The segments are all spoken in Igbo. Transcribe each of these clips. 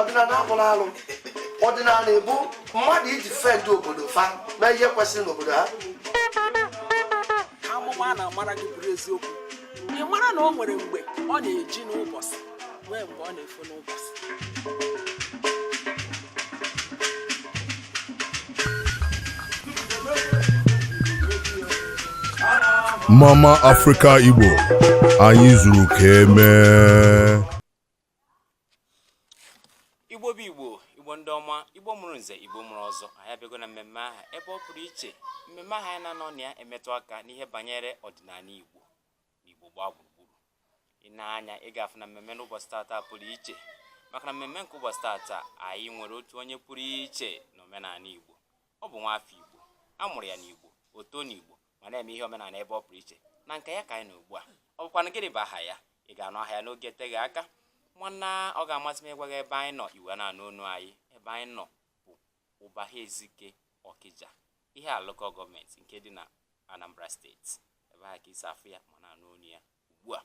ọdịnanị abụrọ arụ ọdịnanị bụ mmadụ ịdefend obodo fa mee ihe kwesịrị n'obodo ha amụma na-amara gị bụrụ eziokwu ị mara na o nwere mgbe ọ na-eji n'ụbọchị nwee mgbe ọ na-efo n'ụbọchị Mama Africa Igbo anyị zuru ka emee igbo bụ igbo igbo ndị ọma igbo mụrụ nze igbo mụrụ ọzọ anyị abịago na mmemme aha ebe ọ pụrụ iche mmemme aha anyị na-anọ na ya emetụ aka n'ihe banyere ọdịnanị igbo n'Igbo gbaa gburugburu i nee anya ị ga-afụ na mmemme n'ụbọchị tata pụrụ iche maka na mmemme nke ụbọchị tata anyị nwere otu onye pụrụ iche na omenala Igbo ọ bụ nwaafọ Igbo a mụrụ ya n'Igbo o too n'Igbo ma na-eme ihe omenala ebe ọ pụrụ iche na nke ya ka anyị nọ ugbu a ọ bụkwanụ gịnị bụ aha ya ị ga-anụ aha ya n'oge eteghị aka nwanna ọ ga-amasị m ịgwa gị ebe anyị nọ i wee na-anụ onu anyị ebe anyị nọ bụ Ụbaha Ezike Ọkịja ihiala local government nke dị na anambra state ebe ahụ ka i si afụ ya ma na-anụ onu ya ugbu a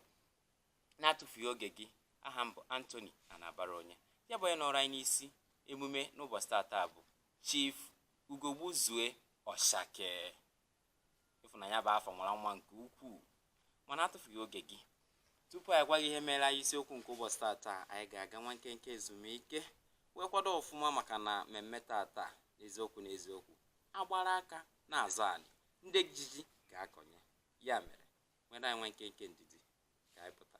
na-atụfughị oge gị aha m bụ anthony anabara onye ya bụ onye nọrọ anyị n'isi emume n'ụbọchị tata bụ chief ugogbuzue ọshake ịfụnanya bụ afa mara nwa nke ukwuu mana atụfughị oge gị tupu anyị gwa gị ihe mere anyị isiokwu nke ụbọchị tata anyị ga-aga nwa nkenke ezumike wee kwado ọfụma maka na mmemme tata n'eziokwu n'eziokwu a gbara aka na-azọ anị ndị ji ji ga-akọnye ya mere nweere anyị nwa nkenke ndidi ka anyị pụta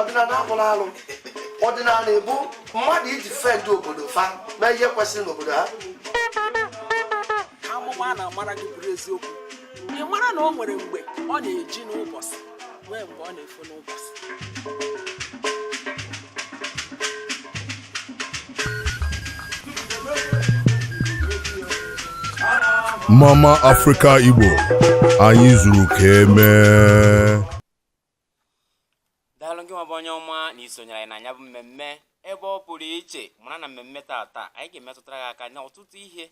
ọdịnanị abụrọ arụ ọdịnanị bụ mmadụ ịdefend obodo fa mee ihe kwesịrị n'obodo ha amụma na-amara gị bụrụ eziokwu ị mara na o nwere mgbe ọ na-eji n'ụbọchị nwee mgbe ọ na-efo n'ụbọchị Mama Africa Igbo anyị zuru ka emee daalụ gị nwa bụ onye ọma na i sonyere anyị na nya bụ mmemme ebe ọ pụrụ iche mara na mmemme tata anyị ga-emetụtara gị aka n'ọtụtụ ihe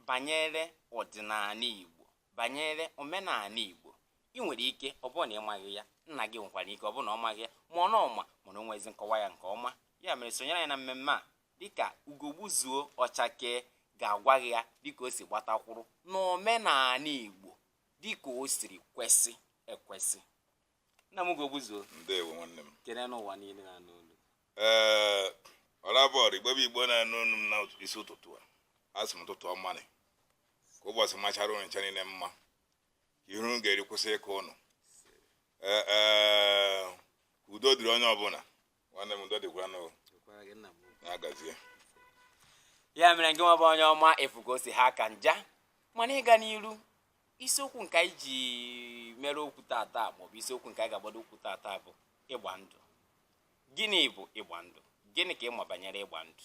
banyere ọdịnanị Igbo banyere omenanị Igbo ị nwere ike ọ bụrụ na ị maghị ya nna gị nwekwara ike ọ bụrụ na ọ maghị ya ma ọ na ọ ma mana o nwezi nkọwa ya nke ọma ya mere sonyere anyị na mmemme a dịka ugogbuzuo ọchake ga-agwa gị ya dịka o si gbata kwụrụ n'omenanị Igbo dịka o siri kwesị ekwesị nna m ugogbuzuo ndewo nwanne m kene ụwa niile na-anụ olu ee ọlabọọdụ igbo bụ igbo na-anụ olu m na isi ụtụtụ a asị m ụtụtụ ọmanị ka ụbọchị machara ụnụ ncha niile mma ka ihe unu ga-eri kwụsị ịkọ ụnụ ee ee ka udo dịrị onye ọbụla nwanne m udo dịkwanụ o, dịkwara gị nna m. ya gazie ya mere gị nwa bụ onye ọma ị fụgo si ha ka nja mana ịga n'iru isiokwu nke anyị ji mere okwu tata maọbụ isiokwu nke anyị ga-agbado okwu tata bụ ịgba ndụ gịnị bụ ịgba ndụ gịnị ka ị ma banyere ịgba ndụ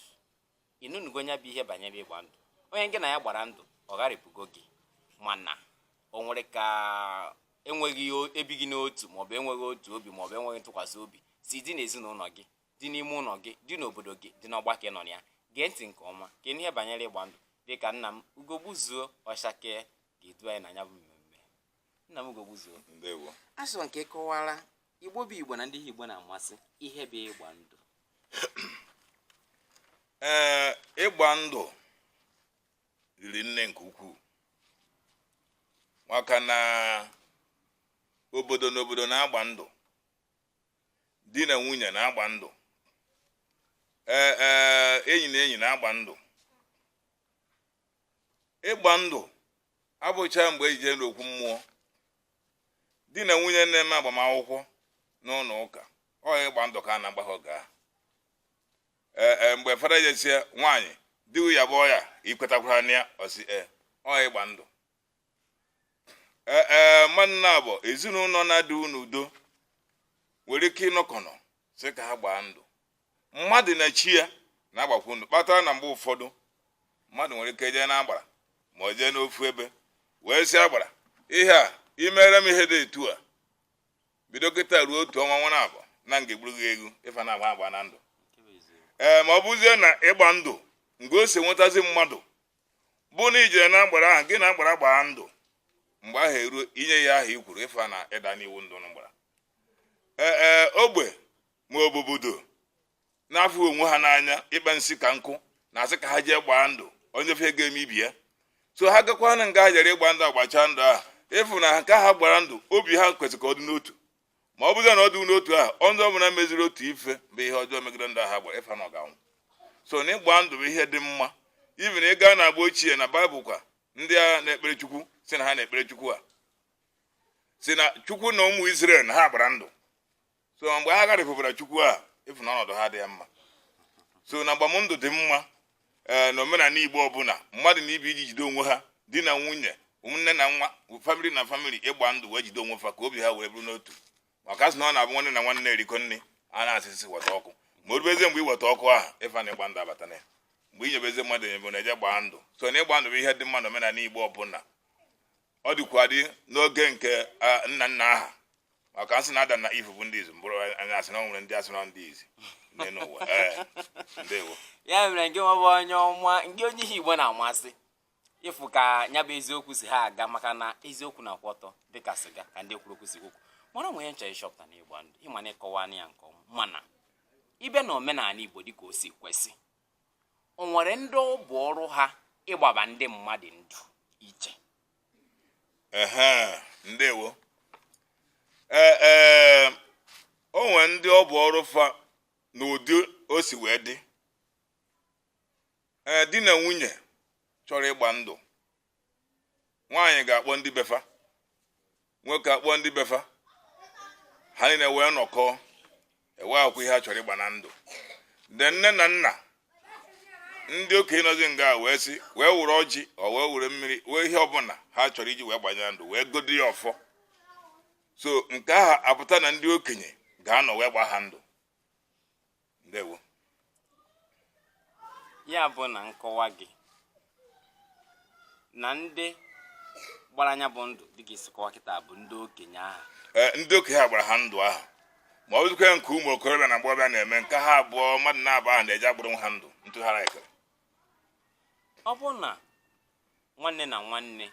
ị nụnugo ya bụ ihe banyere ịgba ndụ onye gị na ya gbara ndụ ọ gharịpụgo gị mana o nwere ka enweghị ebighị n'otu maọbụ enweghị otu obi maọbụ enweghị ntụkwasị obi si dị n'ezinụlọ gị dị n'ime ụlọ gị dị n'obodo gị dị n'ọgbakọ ị nọ na ya gee ntị nke ọma ka ị nụ ihe banyere ịgba ndụ dịka nna m ugogbuzuo ọchake ga-edu anyị na ya bụ mmemme nna m ugogbuzuo ndewo asị m ka ị kọwara igbo bụ igbo na ndị igbo na-amasị ihe bụ ịgba ndụ ee ịgba ndụ riri nne nke ukwuu maka na obodo na obodo na-agba ndụ di na nwunye na-agba ndụ ee ee enyi na enyi na-agba ndụ ịgba ndụ abụcha mgbe e ji jee n'okwu mmụọ di na nwunye na-eme agbamakwụkwọ n'ụlọ ụka ọ ịgba ndụ ka a na-agba ha oge ahụ ee e, mgbe fada je-asị nwaanyị di ya bụ onye a ị kwetakwara na ya ọ sị e ọ ịgba ndụ ee e, mmadụ naabọ ezinụlọ na-adịhụ n'udo nwere ike ịnọkọnọ sị ka ha gbaa ndụ mmadụ na chi ya na-agbakwu ndụ kpatara na mgbe ụfọdụ mmadụ nwere ike jee n'agbara ma ọ jee n'ofu ebe wee sị agbara ihe a ị mere m ihe dị etu a bido kịta ruo otu ọnwa ọnwa naabọ na m ga-egburu gị ewu ịfa na-agba agbaana ndụ ee ma ọ bụzie na ịgba ndụ mgbe o si enwetazi mmadụ bụ na ị jere na agbara ahụ gị na agbara gbaa ndụ mgbe ahụ eruo inye ya ihe ahụ i kwuru ịfa na ị daana iwu ndụ unu gbara e, e, ogbe ma ọ bụ obodo na-afụghị onwe ha n'anya ịkpa nsi ka nkụ na-asị ka ha jee gbaa ndụ onye ife ga-eme ibe ya so ha gakwa na nga ha jere ịgba ndụ a gbachaa ndụ ahụ ị fụ na nke ha gbara ndụ obi ha kwesịrị ka ọ dị n'otu ma ọ bụzi na ọ dị n'otu ahụ onye ọbụla meziri otu ife bụ ihe ọjọọ megide ndụ ha gbara ịfa na ọ ga-anwụ so na ịgba ndụ bụ ihe dị mma even ị gaa na agba ochie na baịbụl ka ndị a na-ekpere chukwu sị na ha na-ekpere chukwu a si na chukwu na ụmụ Izrel na ha gbara ndụ so mgbe ha gharịpụbara chukwu a ị fụ na ọnọdụ ha dị ya mma so na agbamndụ dị mma ee eh, na omenala igbo ọbụla mmadụ na ibe ya ji jide onwe ha di na nwunye ụmụnne na nwa famili na famili ịgba ndụ wee jide onwe fa ka obi ha wee bụrụ n'otu maka a sị na ọ na-abụ nwanne na nwanne erikọ nri a na-asị sị weta ọkụ ma o rubezie mgbe e weta ọkụ ahụ ị fụ na ịgba ndụ abata na ya mgbe i nyebezi mmadụ enyebe na-eje gbaa ndụ so na ịgba ndụ bụ ihe dị mma na omenala igbo ọbụla ọ dịkwa dị n'oge nke nna nna ha maka a sị na Adam na Eve bụ ndị izi mụrụ anyị a sị na o nwere ndị a sị na ndị izi n'ụwa ndewo ya mere ngị nwa bụ onye ọma ngị onye ihe igbo na-amasị ị fụ ka ya bụ eziokwu si ha aga maka na eziokwu na-akwụ ọtọ dịka sịga ka ndị kwuru okwu si kwuo mana o nwee ihe m chọrọ ịchọpụta na ịgba ndụ ị ma na ị kọwa ya nke ọma mana ị bịa na omenala igbo dịka o si kwesị o nwere ndị ọ bụ ọrụ ha ịgbaba ndị mmadụ ndụ iche ehe ndewo ee ee o nwere ndị ọ bụ ọrụ fa n'ụdị o si wee dị ee di na nwunye chọrọ ịgba ndụ nwaanyị ga-akpọ ndị be fa nwoke akpọ ndị be fa ha niile wee nọkọ e wee kwuo ihe a chọrọ ịgba na ndụ then nne na nna ndị okenye nọzi nga wee si wee were ọjị or wee were mmiri wee ihe ọbụla ha chọrọ iji wee gbanye na ndụ wee gọdo ya ọfọ so nke ahụ apụta na ndị okenye ga-anọ wee gba ha ndụ ndewo ya bụ na nkọwa gị na ndị gbara nya bụ ndụ dịka i si kọwa kịta bụ ndị okenye ahụ eh, ndị okenye ha gbara ha ndụ ahụ ma ọ bụzikwa nke ụmụ okorobịa na agbọghọbịa na-eme nke ha abụọ mmadụ naabọ ahụ na-eji agbụrụ ha ndụ ntụgharị ekere ọ bụ na nwanne na nwanne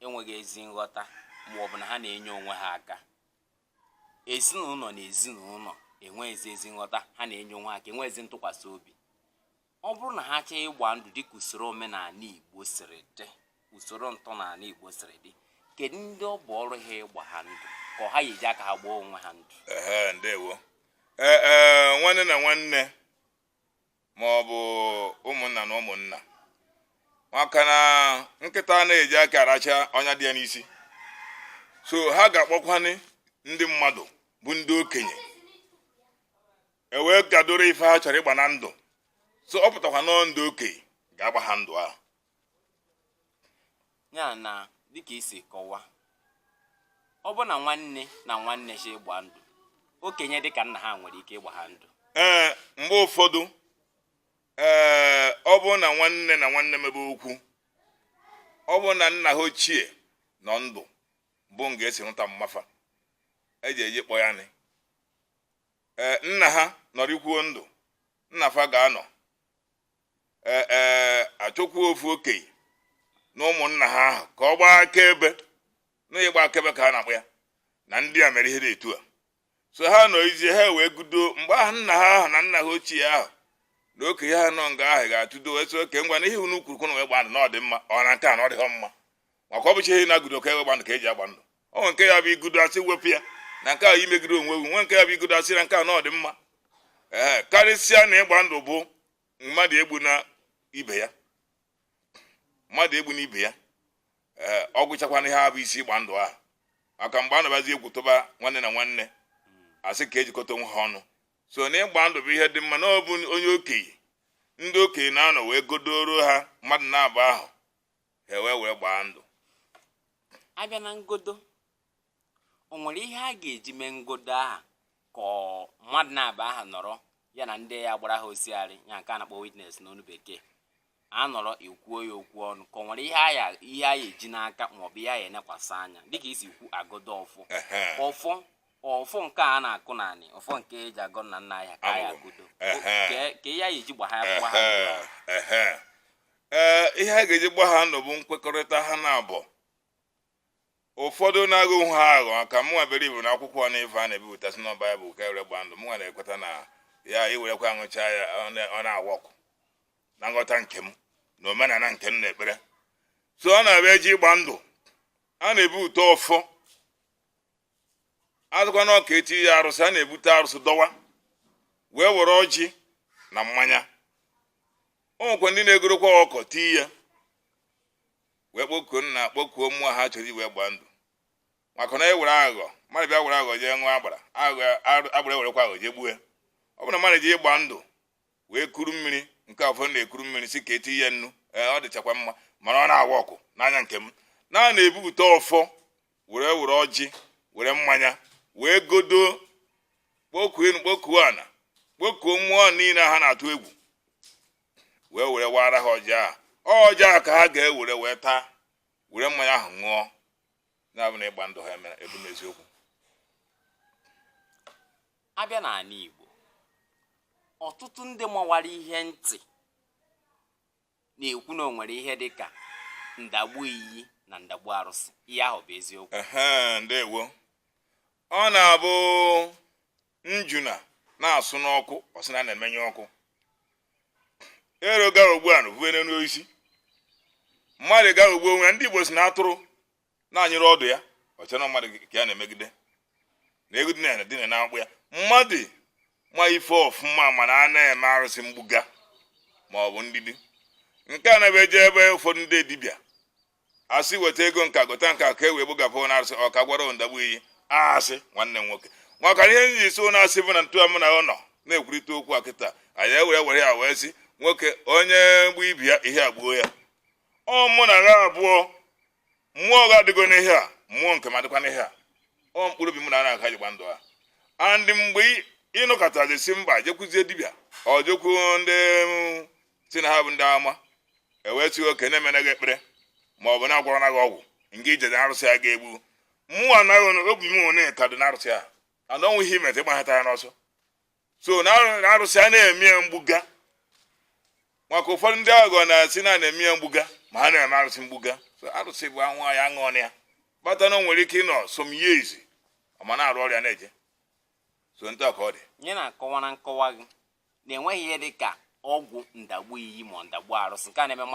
enweghị ezi nghọta ma ọ bụ na ha na-enye onwe ha aka ezinụlọ na ezinụlọ enweghịzi ezi nghọta ha na-enye onwe ha aka enweghịzi ntụkwasị obi ọ bụrụ na ha chọọ ịgba ndụ dịka usoro omenala igbo siri dị usoro ntọala igbo siri dị kedu ndị ọ bụ ọrụ ha ịgba ha ndụ ka ha ya-eji aka ha gbaa onwe ha ndụ ndewo e, e, nwanne na nwanne ma ọ bụ ụmụnna na ụmụnna maka na nkịta na-eji aka aracha ọnya dị ya n'isi so ha ga-akpọkwanye ndị mmadụ bụ ndị okenye e wee gadoro ife ha chọrọ ịgba na ndụ so ọ pụtakwa na ọọ ndị okenye ga-agba ha ndụ ahụ ya na dịka i si kọwaa ọ bụ na nwanne na nwanne si ịgba ndụ okenye dịka nna ha nwere ike ịgba ha ndụ ee mgbe ụfọdụ ee ọ bụ na nwanne na nwanne mebe okwu ọ bụ na nna ha ochie nọ ndụ bụ nga esi mụta mma fa eji eji kpọ ya nị ee nna ha nọrịkwuo ndụ nna fa ga-anọ ee e, achọkwuo ofu okenye na ụmụnna ha ahụ ka ọ gbaa akaebe na ịgba akaebe ka a na-akpọ ya na ndị a mere ihe dị etu a so ha nọzie ha wee godo mgbe ahụ nna ha ahụ na nna ha ochie ahụ na okenye ha nọ nga ahụ ga-atụdo wee sị okay ngwa na ihe unu kwuru ka unu wee gba ndụ na ọ dị mma ọ na nke a na ọ dịghọ mma maka ọ bụcha ihe na-agodo ka ewe gba ndụ ka eji agba ndụ o nwere nke ya bụ igodo asị wepụ ya na nke a imegide onwe gị nwe nke ya bụ igodo asị na nke a na ọ dị mma ee karịsịa na ịgba ndụ bụ mmadụ egbuna ibe ya mmadụ egbuna ibe ya ee ọ gwụchakwana ihe a bụ isi ịgba ndụ ahụ maka mgbe ọ na-abụzi egwu tụba nwanne na nwanne asị ka ejikọta onwe ha ọnụ so na ịgba ndụ bụ ihe dị mma na ọ bụ onye okenye ndị okenye na-anọ wee godoro ha mmadụ naabọ ahụ ha wee wee gbaa ndụ abịa na ngodo o nwere ihe a ga-eji mee ngodo aha ka mmadụ naabọ aha nọrọ ya na ndị ya gbara ha osiarị ya nke a na-akpọ witness n'ọnụ bekee anọrọ ekwuo ya okwu ọnụ ka o nwere ihe a ya ihe a ya-eji n'aka maọbụ ihe a ya-enekwasị anya dịka i si kwuo agodo ọfọ ọfọ ọfọ nke a na-akụ n'anị ọfọ nke eji agọ nna nna anyị ha ka a ya-agodo ka ihe a ya-eji gba ha gba ha ee ihe a ga-eji gba ha ndụ bụ nkwekọrịta ha naabọ ụfọdụ na-aghọ ha aghụghọ ka mụnwa bere ibu na akwụkwọ na ife a na-ebipụtasị na baịbụl ka ewere gba ndụ mụnwa na-ekweta na ya ewerekwa aṅụcha ya ọ na- ọ na-awa ọkụ na nghọta nke m na omenala nke m na-ekpere so ọ na-abụ eje ịgba ndụ a na-ebupụta ọfọ asịkwanụ ka eti ya arụsị a na-ebute arụsị dọwa wee were ọjị na mmanya o nwekwa ndị na-egorokwa ọkụkọ tii ya wee kpọkuo nna kpọkuo mmụọ ha chọrọ iwere gbaa ndụ maka na e were aghụghọ mmadụ bịa were aghụghọ jee ṅụọ agbara aghụghọ agbara ewerekwa aghụghọ jee gbue ọ bụrụ na mmadụ ji ịgba ndụ wee kuru mmiri nke afọ na-ekuru mmiri sị ka eti ya nnu ee ọ dịchakwa mma mana ọ na-awa ọkụ n'anya nke m na na-ebupụta ọfọ were were ọjị were mmanya wee godo kpọkuo enu kpọkuo ana kpọkuo mmụọ niile ha na-atụ egwu wee were wara ha ọjị ahụ ọjị ahụ ka ha ga-ewere wee taa were mmanya ahụ ṅụọ na-abụ na ịgba ndụ ha emere ebu n'eziokwu abịa n'ala Igbo ọtụtụ ndị mawara ihe ntị na-ekwu na o nwere ihe dị ka ndagbu iyi na ndagbu arụsị ihe ahụ bụ eziokwu ehe ndewo ọ na-abụ njuna na-asụ n'ọkụ ọ sị na ya na-emenyụ ọkụ ero ghọgbuo ana o fue n'elu osisi mmadụ ghọgbuo onwe ya, ndị igbo si na atụrụ na-anyụrụ ọdụ ya o che na mmadụ ka ya na-emegide na ego dị na dina na akpụ ya mmadụ ma ife ọfụma mana a na-eme arụsị mgbuga ma ọ bụ ndidi nke a na-abụ e jee be ụfọdụ ndị dibịa asị weta ego nka gota nka ka e wee gbugapụ na arụsị ọ ka gwọrọ ndagbu iyi asị nwanne m nwoke maka ihe m ji so na asị bụ na ntụa m na ọ nọ na-ekwurịta okwu a kịta anyị ewere were ya wee sị nwoke onye gbuo ibe ya ihe egbuo ya ọ mụ na ha abụọ mmụọ gị adịgo n'ihe a mmụọ nke m adịkwa n'ihe a ọ mkpụrụ obi mụ na gị ka e ji gba ndụ a and mgbe ị nọkatazi sị mba jekwuzie dibịa ọ jekwu ndị si na ha bụ ndị amụma e wee sị ka a na-emere gị ekpere ma ọ bụ na-agwọrọ gị ọgwụ nke ije na arụsị a ga-egbu mmụọ anaghị obi m one ka dị na arụsị a and o nwee ihe i meta ịgbaghata ya n'ọsọ so na arụsị a na-eme ya mgbuga maka ụfọdụ ndị aghụghọ na-asị na na-eme ya mgbuga ma ha na-eme arụsị mgbuga so arụsị bụ a ṅụọ ya aṅụọ ọ ya kpata na o nwere ike ịnọ some years ọ ma na-arụ ọrịa na-eje so ntụa ka ọ dị nye na-akọwa na nkọwa gị na enweghị ihe dị ka ọgwụ ndagbu iyi ma ndagbu arụsị nke a na-eme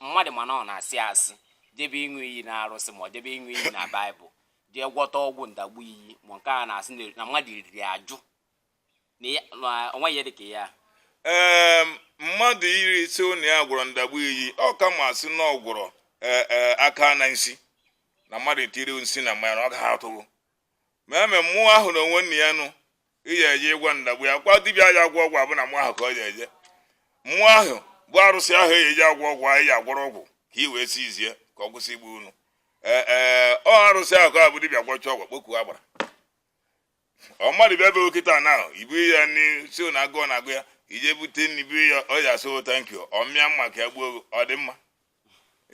mmadụ ma na ọ na-asị asị jebe ịṅụ iyi na arụsị ma ọ jebe ịṅụ iyi na baịbụl jee gwọta ọgwụ ndagbu iyi ma nke a na-asị na mmadụ riri ajụ na o nweghị ihe dịka ya ee mmadụ iri nsi na ya gwọrọ ndagbu iyi ọ ka mma a sị na ọ gwọrọ e, e, aka na nsi na mmadụ etiri nsi na mmanya na ọ gaghị atụ gị ma eme mmụọ ahụ na onwe nna ya nụ ị ya eje ịgwọ ndagbu iyi kwa dibịa ya agwọ ọgwụ ọ bụ na mmụọ ahụ ka ọ ya eje mmụọ ahụ bụ arụsị ahụ ya eji agwọ ọgwụ anyị ya agwọrọ ọgwụ ka ị wee si izie ka ọ kwụsị igbu unu ee ee ọ arụsị ahụ ka abụ dibịa gwọcha ọgwụ kpokuo agbara ọ mmadụ bịa be gị kịta na ahụ ibu ya nri si na agụụ na agụ ya i jee bute nri bunye ya ọ ya asị thank you ọ mịa mma ka ya gbuo gị ọ dị mma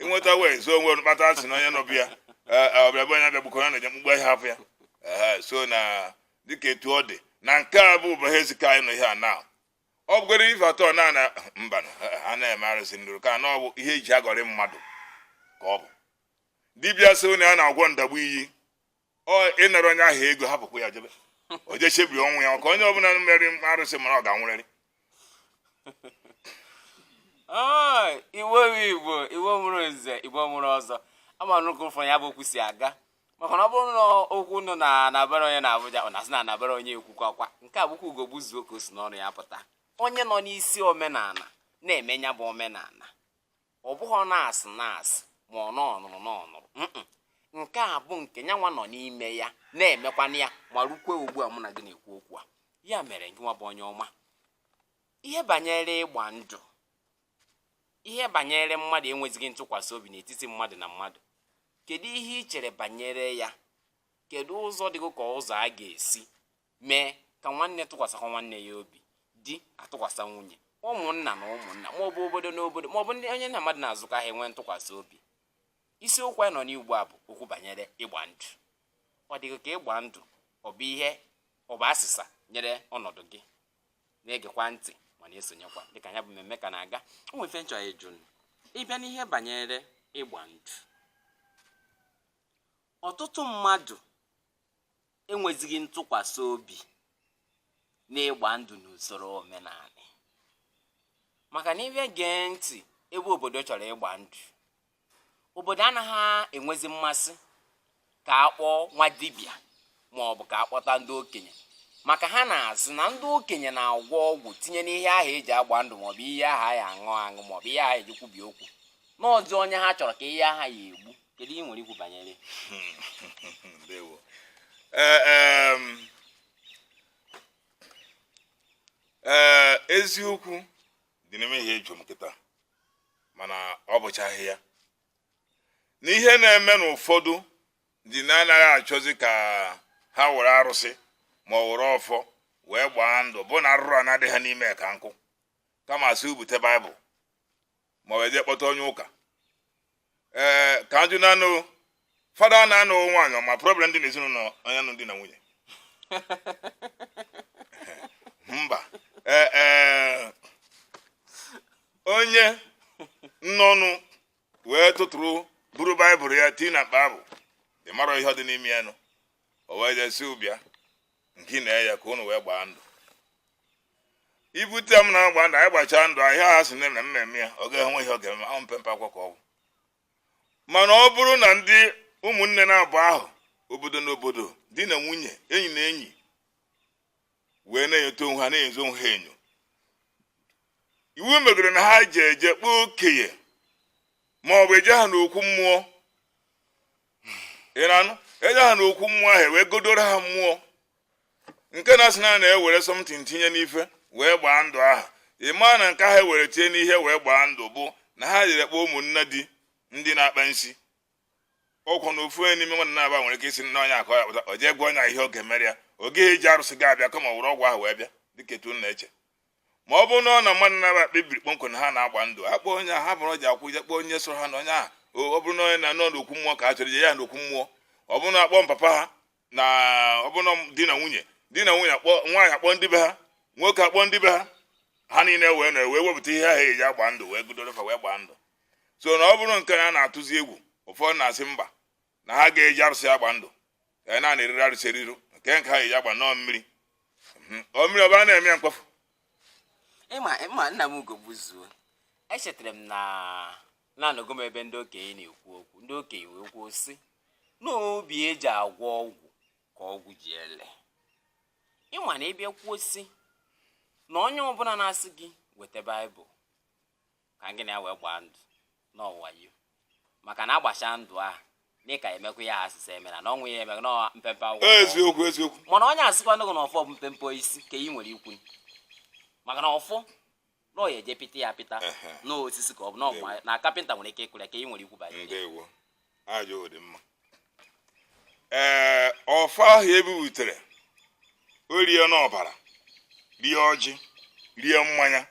ịnweta wee zoo onwe kpata asị na onye nọ be ya ọbịa be onye abịagbukọ ya na-eje mkpumkpu ya apụ ya so na dịka etu ọ dị na nke a bụ ụbọchị ezika anyị nọ ihe a na ọ bụgoro ife atọ na na mba a na-eme arụsị ndụrụ ka na ọ bụ ihe eji aghọrị mmadụ ka ọ bụ dibịa sị na ya na-agwọ ndagbu iyi ọ ịnara onye ahụ ego hapụkwa ya jebe o jee chebiri ọnwụ ya ka onye ọbụla mere arụsị mara ọ ga-anwụrịrị Oi, Igbo bụ Igbo Igbo mụrụ nze Igbo mụrụ ọzọ ama nnukwu ụfọ ya bụ okwu si aga maka na ọ bụrụ na okwu nọ na anabara onye na Abuja ọ na-asị na anabara onye ekwukwa nke a bụkwa ugo gbuzuo ka o si n'ọnụ ya pụta onye nọ n'isi omenala na-eme ya bụ omenala ọ bụghị ọ na-asị na-asị ma ọ na ọ nụrụ na ọ nụrụ nke a bụ nke nya nwa nọ n'ime ya na-emekwana ya ma rukwe ugbu a mụ na gị na-ekwu okwu a ya mere gị nwa bụ onye ọma ihe banyere ịgba ndụ ihe banyere mmadụ enwezighị ntụkwasị obi n'etiti mmadụ na mmadụ kedu ihe ị chere banyere ya kedu ụzọ dị gị ka ụzọ a ga-esi mee ka nwanne tụkwasịkwa nwanne ya obi di atụkwasị nwunye ụmụnna na ụmụnna maọbụ obodo na obodo maọbụ ndị onye na mmadụ na-azụkọ ahịa nwee ntụkwasị obi isiokwu anyị nọ n'ugbu a bụ okwu banyere ịgba ndụ ọ dị gị ka ịgba ndụ ọ bụ asịsa nyere ọnọdụ gị na-egekwa ntị ma na-esonyekwa dịka ya bụ mmemme ka na-aga o nwe ife m chọ ịjụ ị bịa n'ihe banyere ịgba ndụ ọtụtụ mmadụ enwezighị ntụkwasị obi n'ịgba ndụ n'usoro omenala maka na ị bịa gee ntị ebe obodo chọrọ ịgba ndụ obodo anaghị enwezi mmasị ka a kpọọ nwa dibịa ma ọ bụ ka a kpọta ndị okenye maka ha na-asị na ndị okenye na-agwọ ọgwụ tinye n'ihe ahụ e ji agba ndụ maọbụ ihe aha a ya-aṅụ aṅụ maọbụ ihe aha e ji kwubi okwu na ọzị onye ha chọrọ ka ihe aha ya-egbu kedu ihe i nwere ikwu banyere ndewo ee eziokwu dị n'ime ihe ị jụ m kịta mana ọ bụchaghị ya na ihe na-eme n'ụfọdụ ji na-anaghị achọzi ka ha were arụsị ma ọ were ọfọ wee gbaa ndụ bụ na arụrụana dị ha n'ime ka nkụ kama a sị bute baịbụl ma ọ e jee kpọta onye ụka ee ka m jụ na anụ fada ọ na-anụ nwaanyị ma problem dị n'ezinụlọ anya nụ di na nwunye mba ee e, onye nnọnụ wee tụtụrụ buru baịbụl ya tii na mkpa abụ ị marọ ihe dị n'ime ya nụ o wee jee sị bịa ngị na ya ka unu wee gbaa ndụ i bute m na-agba ndụ anyị gbachaa ndụ ahụ ha sị na na mmemme ya ọ ga-enwe ihe ọ ga-eme ahụ mpempe akwụkwọ ka ọ bụ mana ọ bụrụ na ndị ụmụnne na-abụ ahụ obodo na obodo di na nwunye enyi na enyi wee na-enyote onwe ha na-enyozi onwe ha enyo ihe megoro na ha ji eje kpọọ okenye ma ọ bụ ejee ha n'okwu mmụọ ị na-anụ eje ha na okwu mmụọ ahụ wee gọdoro ha mmụọ nke na-asị na na-ewere something tinye n'ife wee gbaa ndụ aha ị ma na nke ha ewere tinye n'ihe wee gbaa ndụ bụ na ha jere kpọọ ụmụnne di ndị na-akpa nsi ọkwụ na ofu onye n'ime nwanne naabọ nwere ike isi nna onye akọ ya pụta o jee gwa onye ihe ọ ga-emere ya ọ gaghị eji arụsị ga-abịa kama were ọgwụ ahụ wee bịa dịka etu na-eche ma ọ bụrụ na ọ na mmadụ naabọ kpebiri kpọmkwem na ha na-agba ndụ ha kpọọ onye ha bụrụ ji akwụ ije kpọọ onye soro ha na onye ahụ ọ bụrụ na onye na-anọ n'okwu mmụọ ka a chọrọ ije ya n'okwu mmụọ ọ bụrụ na akpọ papa ha na ọ bụrụ na di na nwunye di na nwunye akpọ nwaanyị akpọ ndị be ha nwoke akpọ ndị be ha ha niile wee na wee wepụta ihe ahụ eji agba ndụ wee gọdoro fa wee gbaa ndụ so na ọ bụrụ nke a na-atụzi egwu ụfọdụ na-asị mba na ha ga-eji arụsị agba ndụ ka anyị na-ana eriru arụsị eriru nke nke ha eji agba nnọọ mmiri mhm. ọ mmiri ọba na-eme ya mkpofu ịma ịma nna m Ugogbuzuo echetara m na na anọgo m ebe ndị okenye na-ekwu okwu ndị okenye wee kwuo sị na obi eji agwọ ọgwụ ka ọgwụ ji ele ị ma na ị bịa kwuo sị na onye ọbụla na-asị gị weta baịbụl ka gị na ya wee gbaa ndụ na ọ wayo maka na agbacha ndụ ahụ dị ka emekwa ihe a sị ya emena na ọnwụ ya emekwa na mpempe akwụkwọ eziokwu eziokwu mana onye asịkwanụ na ọfọ bụ mpempe osisi ka ị nwere ikwu maka na ọfọ na ọya eje pịta ya pịta n'osisi ka ọ bụ n'ọgba na kapịnta nwere ike ịkụrụ ka ị nwere ikwu banyere ndewo ajụjụ dị mma ee ọfọ ahụ ebibutere o rie n'ọbara rie ọjị rie mmanya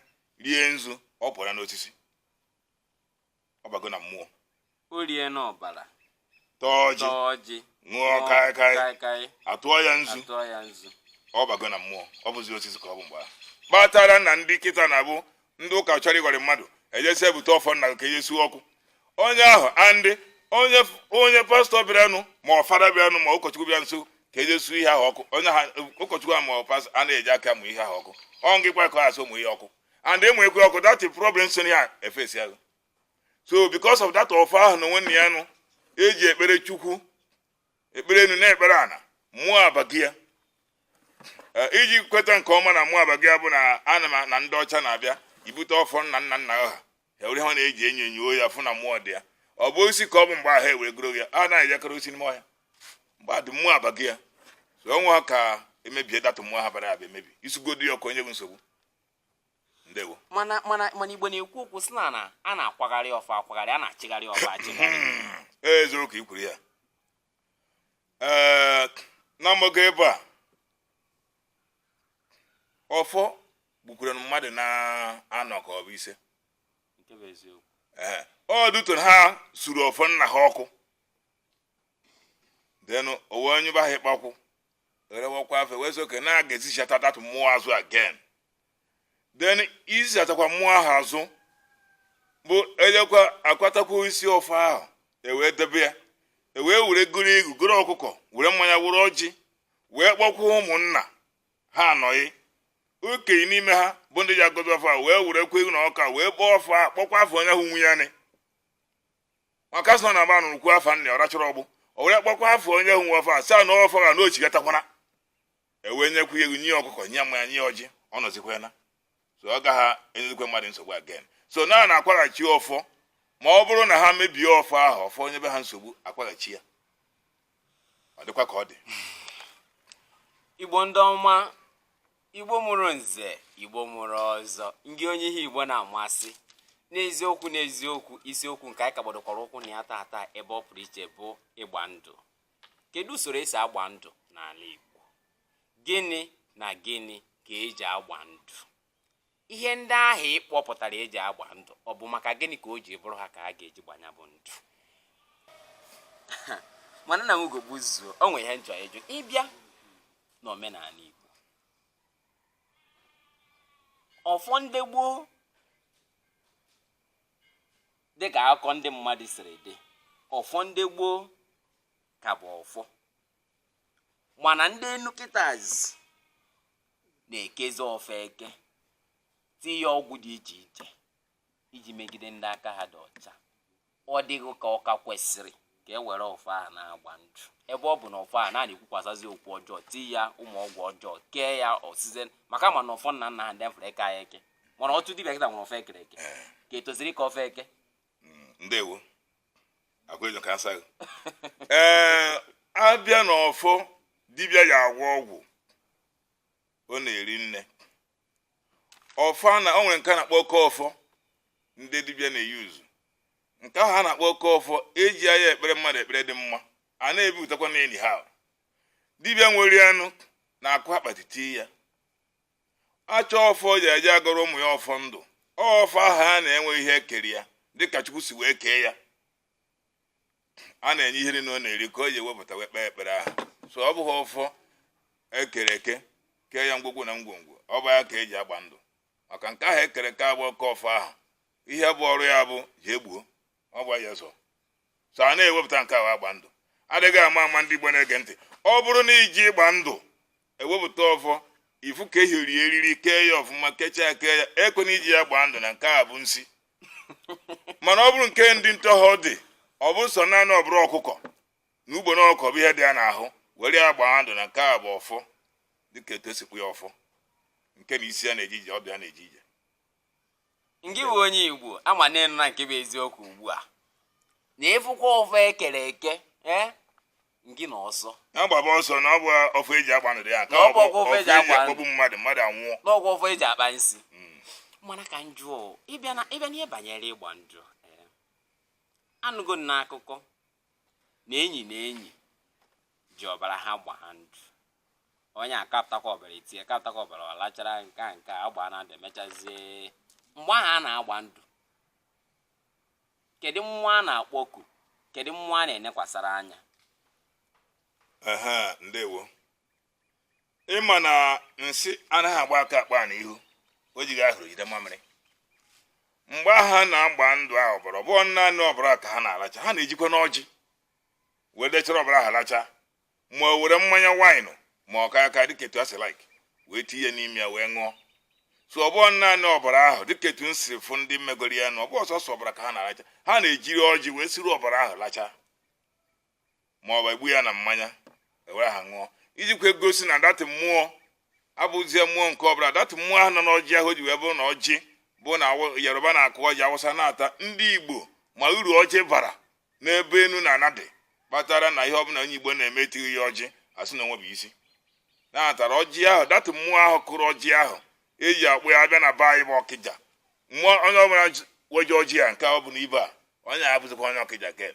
rie nzu ọ pụọla n'osisi ọ bago na mmụọ o rie n'ọbara taa ọjị taa ọjị ṅụọ kaịkaị kaịkaị atụọ ya nzu atụọ ya nzu ọ bago na mmụọ ọ bụzi osisi ka ọ bụ mgbe ahụ kpatara na ndị kịta na-abụ ndị ụka chọrọ ịghọri mmadụ eje sị ebute ọfọ nna gị ka eje suo ọkụ onye ahụ and onye onye pastọ bịaranụ ma ọ fada bịaranụ ma ụkọchukwu bịanụ sị ka eje suo ihe ahụ ọkụ onye ahụ ụkọchukwu ahụ ma ọ pastọ a na-eji aka mụ ihe ahụ ọkụ ọ ngị kwa ka asị mụ ihe ọkụ and ị mụkwaa ọkụ that is problem so ya efesi ahụ so because of that ọfọ ahụ na onwe nna ya nụ eji ekpere chukwu ekpere enu na-ekpere ana mmụọ abago ya Eh, iji kweta nke ọma na mmụọ abago ya bụ na ama m na ndị ọcha na-abịa ibute ọfọ nna nna nna ha ewere ha na-eji enyo enyo ya fụ na mmụọ dị ya ọ bụ osisi ka ọ bụ mgbe ahụ ewere goro ya a naghị akara osisi n'ime ọhịa mgbe adị mmụọ abaghị ya so o nweghị ka emebie that mmụọ ahụ bara aba emebi i sugodu ya ọkụ ọ nya bụ nsogbu ndewo mana mana mana igbo na-ekwu okwu sị na a na-akwagharị ọfọ akwagharị a na-achịgharị ọfọ achịgharị ee eziokwu ka i kwuru ya ee na mgbago ebe a ọfọ gbukwere mmadụ na-anọ ka ọ bụ ise ọdụtụrụ ha suru ọfọ nna ha ọkụ then o wee nyeba ha ịkpakwụ erewakwa afa wee sị okay na a ga-ezichata that mmụọ azụ again then izichatakwa mmụọ ahụ azụ bụ ejekwa akwatakwa isi ọfọ ahụ ewee debe ya ewee were goro eghu goro ọkụkọ were mmanya were ọjị wee kpọkwuo ụmụnna ha ndị okenye n'ime ha bụ ndị ji agọzi ọfọ a wee were kwe na ọka wee kpọọ ọfọ a kpọkwa afa onye ahụ nwe ya nị maka a sị na manụ rụkwu afa nna ọ rachọrọ ọgbụ o were kpọkwa afa onye ahụ nwe ọfọ a saa na ọfọ ga na ọ chighatakwana ewee nyekwa ya eghu nye ọkụkọ nye mmanya nye ọjị ọ nọzikwa ya na so ọ gaghị enyezikwa mmadụ nsogbu again so a na-akwaghachi ọfọ ma ọ bụrụ na ha mebie ọfọ ahụ ọfọ enyebe ha nsogbu akwaghachi ya ọ dịkwa ka ọ dị igbo ndị ọma igbo mụrụ nze igbo mụrụ ọzọ ngị onye ihe igbo na-amasị n'eziokwu n'eziokwu isiokwu nke anyị ka gbadokwara ụkwụ na ya tata ebe ọ pụrụ iche bụ ịgba ndụ kedu usoro esi agba ndụ n'ala igbo gịnị na gịnị ka eji agba ndụ ihe ndị ahụ ị kpọpụtara eji agba ndụ ọ bụ maka gịnị ka o ji bụrụ ha ka a ga-eji gbaa ya bụ ndụ mana nna m Ugogbuzuo o nwere ihe m chọ ịjụ ị bịa n'omenala Igbo ọfọ ndị gboo dị ka akụkọ ndị mmadụ siri dị ọfọ ndị gboo ka bụ ọfọ mana ndị enu kịtazi na-ekezi ọfọ eke tinye ya ọgwụ dị iche iche iji megide ndị aka ha dị ọcha ọ dịghị ka ọ ka kwesịrị ka e were ọfọ a na-agba ndụ ebe ọ bụ na ọfọ a na-ekwukwasazị okwu ọjọọ tinye ya ụmụ ọgwụ ọjọọ kee ya osize maka a ma na ọfọ nna nna ha ndị fere ekeghị ya eke mana otu dibịa kịta nwere ọfọ ekere eke kee etu e siri kee ọfọ eke ndewo akwejo ka asa ee a bịa na ọfọ dibịa ji agwọ ọgwụ o nwere nne ọfọ na o nwere nke a na-akpọ oke ọfọ ndị dibịa na-eyuzu nke ahụ a na-akpọ oke ọfọ ejighị ya ekpere mmadụ ekpere dị mma a na-ebipụtakwa n'enyi ha dibịa nwere ya nụ na-akụ akpati tii ya a chọọ ọfọ eji eje agọrọ ụmụ ya ọfọ ndụ ọfọ ahụ a na-enwe ihe ekere ya dịka chukwu si wee kee ya a na-enye ihe niile ọ na-eri ka o ji ewepụta wee kpee ekpere ahụ so ọ bụghị ọfọ ekere eke kee ya ngwugwu na ngwongwo ọ bụ ya ka eji agba ndụ maka nke ahụ ekere eke bụ oke ọfọ ahụ ihe bụ ọrụ ya bụ jee gbuo ọ gwa ya so so a na-ewepụta nke ahụ agba ndụ adịghị ama ama ndị Igbo na-ege ntị ọ bụrụ na i je ịgba ndụ ewepụta ọfọ ifu ka e jiri eriri kee ya ọfụma kechaa kee ya eke na iji ya gbaa ndụ na nke a bụ nsi mana ọ bụrụ nke ndị ntọhọ dị ọ bụ sọ naanị ọbara ọkụkọ na ugbene ọkụkọ bụ ihe dị ya n'ahụ were ya gbaa ndụ na nke a bụ ọfọ dịka etu e si kwu ya ọfọ nke na isi ya na-eje ije ọdụ ya na-eje ije ngị bụ onye igbo ama na-enu na nke bụ eziokwu ugbu a na ịfụkwa ọfọ ekere eke ee ngị na ọsọ na-agbaba ọsọ na ọ bụ ọfọ eji agba ndụ ya ka ọ bụ ọfọ eji akpọgbu mmadụ mmadụ anwụọ na ọ bụ ọfọ eji akpa nsi Mm. mana ka m jụọ ịbịa n'ihe banyere ịgba ndụ ee, anụgo m n'akụkọ na enyi na enyi ji ọbara ha gbaa ndụ onye a kapụtakwa ọbara etinye kapụtakwa ọbara ọ lachara nke a nke a agba na ndụ emechazie mgbe ahụ a na-agba ndụ kedu mmụọ a na-akpọku kedu mmụọ a na-enekwasara anya ehe ndewo ịma na nsị anaghị agba aka akpa na ihu o jighị ahụrụ jide mamịrị mgbe ha na-agba ndụ ahụ ọbara ọ bụghị naanị ọbara ka ha na-alacha ha na-ejikwanụ ọjị wee dechara ọbara ha lacha ma o were mmanya waịnụ ma ọ kaịkaị dịka etu ha si laik wee tinye n'ime ya wee ṅụọ so ọ bụghị naanị ọbara ahụ dịka etu m si fụ ndị megoro ya na ọ bụ sọsọ ọbara ka ha na-alacha ha na-ejiri ọjị wee siri ọbara ahụ lacha ma ọ bụ egbu ya na mmanya ewere ha ṅụọ ijikwa egosi na datị mmụọ abụzie mmụọ nke ọbụla datị mmụọ ahụ nọ n'ọjị ahụ o ji wee bụrụ na ọjị bụ na Awa- yoruba na-akụ ọjị awụsa na-ata ndị igbo ma uru ọjị bara n'ebe enu na ana dị kpatara na ihe ọbụla onye igbo na-eme etighi ya ọjị asị na o nwebeghị isi na atara ọjị ahụ datị mmụọ ahụ kụrụ ọjị ahụ eji akpọ ya abịa na be anyị bụ ọkịja mmụọ onye ọbụla ji- weje ọjị ya nke ọ bụla ibe a onye abụzikwa onye ọkịja ke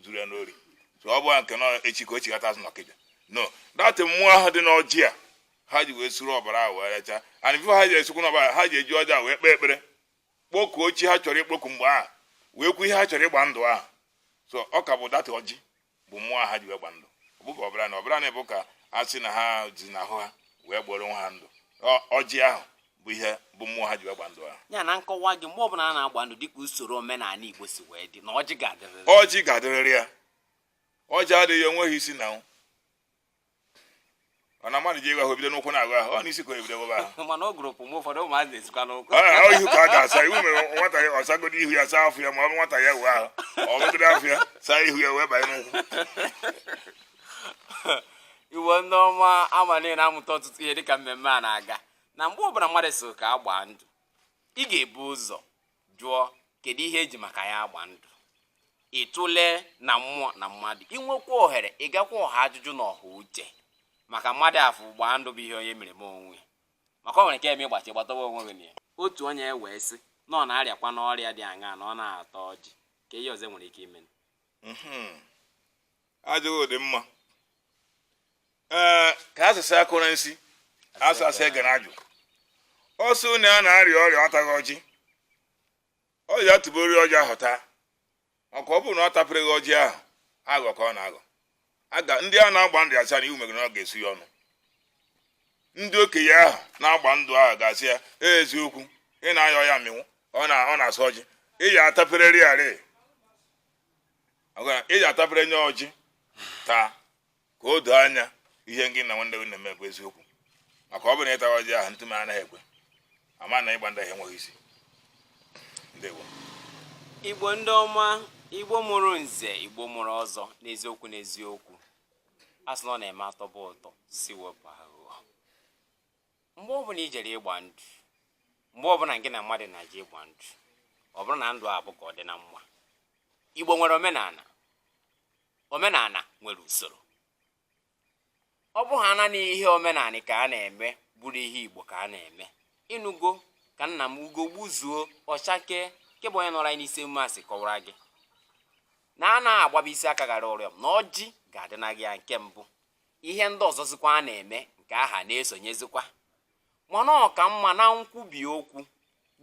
zuru ya n'ori so ọ bụla nke na echi ka o chighata azụ n'ọkịja no datị mmụọ ahụ dị n'ọjị a ha ji wee suru ọbara ahụ wee rechaa and bifo ha ji esukwu n'ọbara ha ji eji ọjị a wee kpee ekpere kpokuo chi ha chọrọ ikpoku mgbe ahụ wee kwu ihe ha chọrọ ịgba ndụ ahụ so ọ ka bụ datị ọjị bụ mmụọ ha ji wee gba ndụ ọ bụghị ọbara na ọbara na bụ ka a sị na ha si n'ahụ ha wee gbaara onwe ha ndụ ọjị ahụ bụ ihe bụ mmụọ ha ji wee gba ndụ ahụ ya na nkọwa gị mgbe ọbụla a na-agba ndụ dịka usoro omenala Igbo si wee dị na ọjị ga-adịrịrị ọjị ga-adịrịrị ya ọjị adịghị ya o nweghị isi na nwụ ọ na mmadụ je ịghụ ahụ bido n'ụkwụ na-aghụ ahụ ọ n'isi ka ebido ghụba ahụ mana ọ gụrụpụ mgbe ụfọdụ ụmụazị na-esikwa n'ụkwụ ọ ihu ka a ga-asa iwu mere nwata ya ọsagodi ihu ya saa afọ ya ma ọ bụ nwata ya wụọ ahụ ọ ghụgide afọ ya saa ihu ya wee banye n'ụkwụ Igbo ndị ọma ama niile na-amụta ọtụtụ ihe dịka mmemme a na-aga na mgbe ọbụla mmadụ sị ka a gbaa ndụ ị ga-ebu ụzọ jụọ kedu ihe eji maka ya agba ndụ ịtụle na mmụọ na mmadụ inwekwa ohere ịgakwa ọha ajụjụ na ọha uche maka mmadụ afụ gbaa ndụ bụ ihe onye mere onwe ya maka o nwere ike ime ịgbachi gbatawa onwe gị na ya otu onye ewee sị na ọ na-arịakwa n'ọrịa dị aṅaa na ọ naghị ata ọjị ka ihe ọzọ nwere ike ime mhm. ajụghị dị mma ee ka asụsụ akụrụ nsi asụ asụ egere ajụ ọ sị na ya na-arịa ọrịa ọtaghị ọjị ọ ya-atụbiri ọjị ahụ taa maka ọ bụrụ na ọ tapereghị ọjị ahụ aghụghọ ka ọ na-aghọ aga ndị a na-agba ndụ asị ya na iwu megoro na ọ ga-esu ya ọnụ ndị okenye ahụ na-agba ndụ ahụ ga-asị ya "Ee, eziokwu ị na-aya ọya mịnwụ ọ na- ọ na-asọ ọjị ị ya atapererịrị ị ya atapere nye ọjị taa ka o doo anya ihe gị na nwanne gị na-eme bụ eziokwu maka ọ bụrụ na ị taa ọjị ahụ ntụme anaghị ekwe ama na ịgba ndụ ahụ enweghị isi ndewo igbo ndị ọma igbo mụrụ nze igbo mụrụ ọzọ n'eziokwu n'eziokwu a sị na ọ na-eme atọba ụtọ sị wepụ aghụghọ mgbe ọbụla i jere ịgba ndụ mgbe ọbụla gị na mmadụ na-eje ịgba ndụ ọ bụrụ na ndụ a bụ ka ọ dị na mma igbo nwere omenala omenala nwere usoro ọ bụ ha naanị ihe omenanị ka a na-eme bụrụ ihe igbo ka a na-eme ị nụgo ka nna m ugo gbuzuo ọchake nke bụ onye nọrọ anyị n'isi emume a si kọwara gị na a na-agbaba isi aka gara ụrịọm na ọjị ga-adị na gị ya nke mbụ ihe ndị ọzọzikwa a na-eme nke aha na-esonyezikwa mana ọ ka mma na nkwubi okwu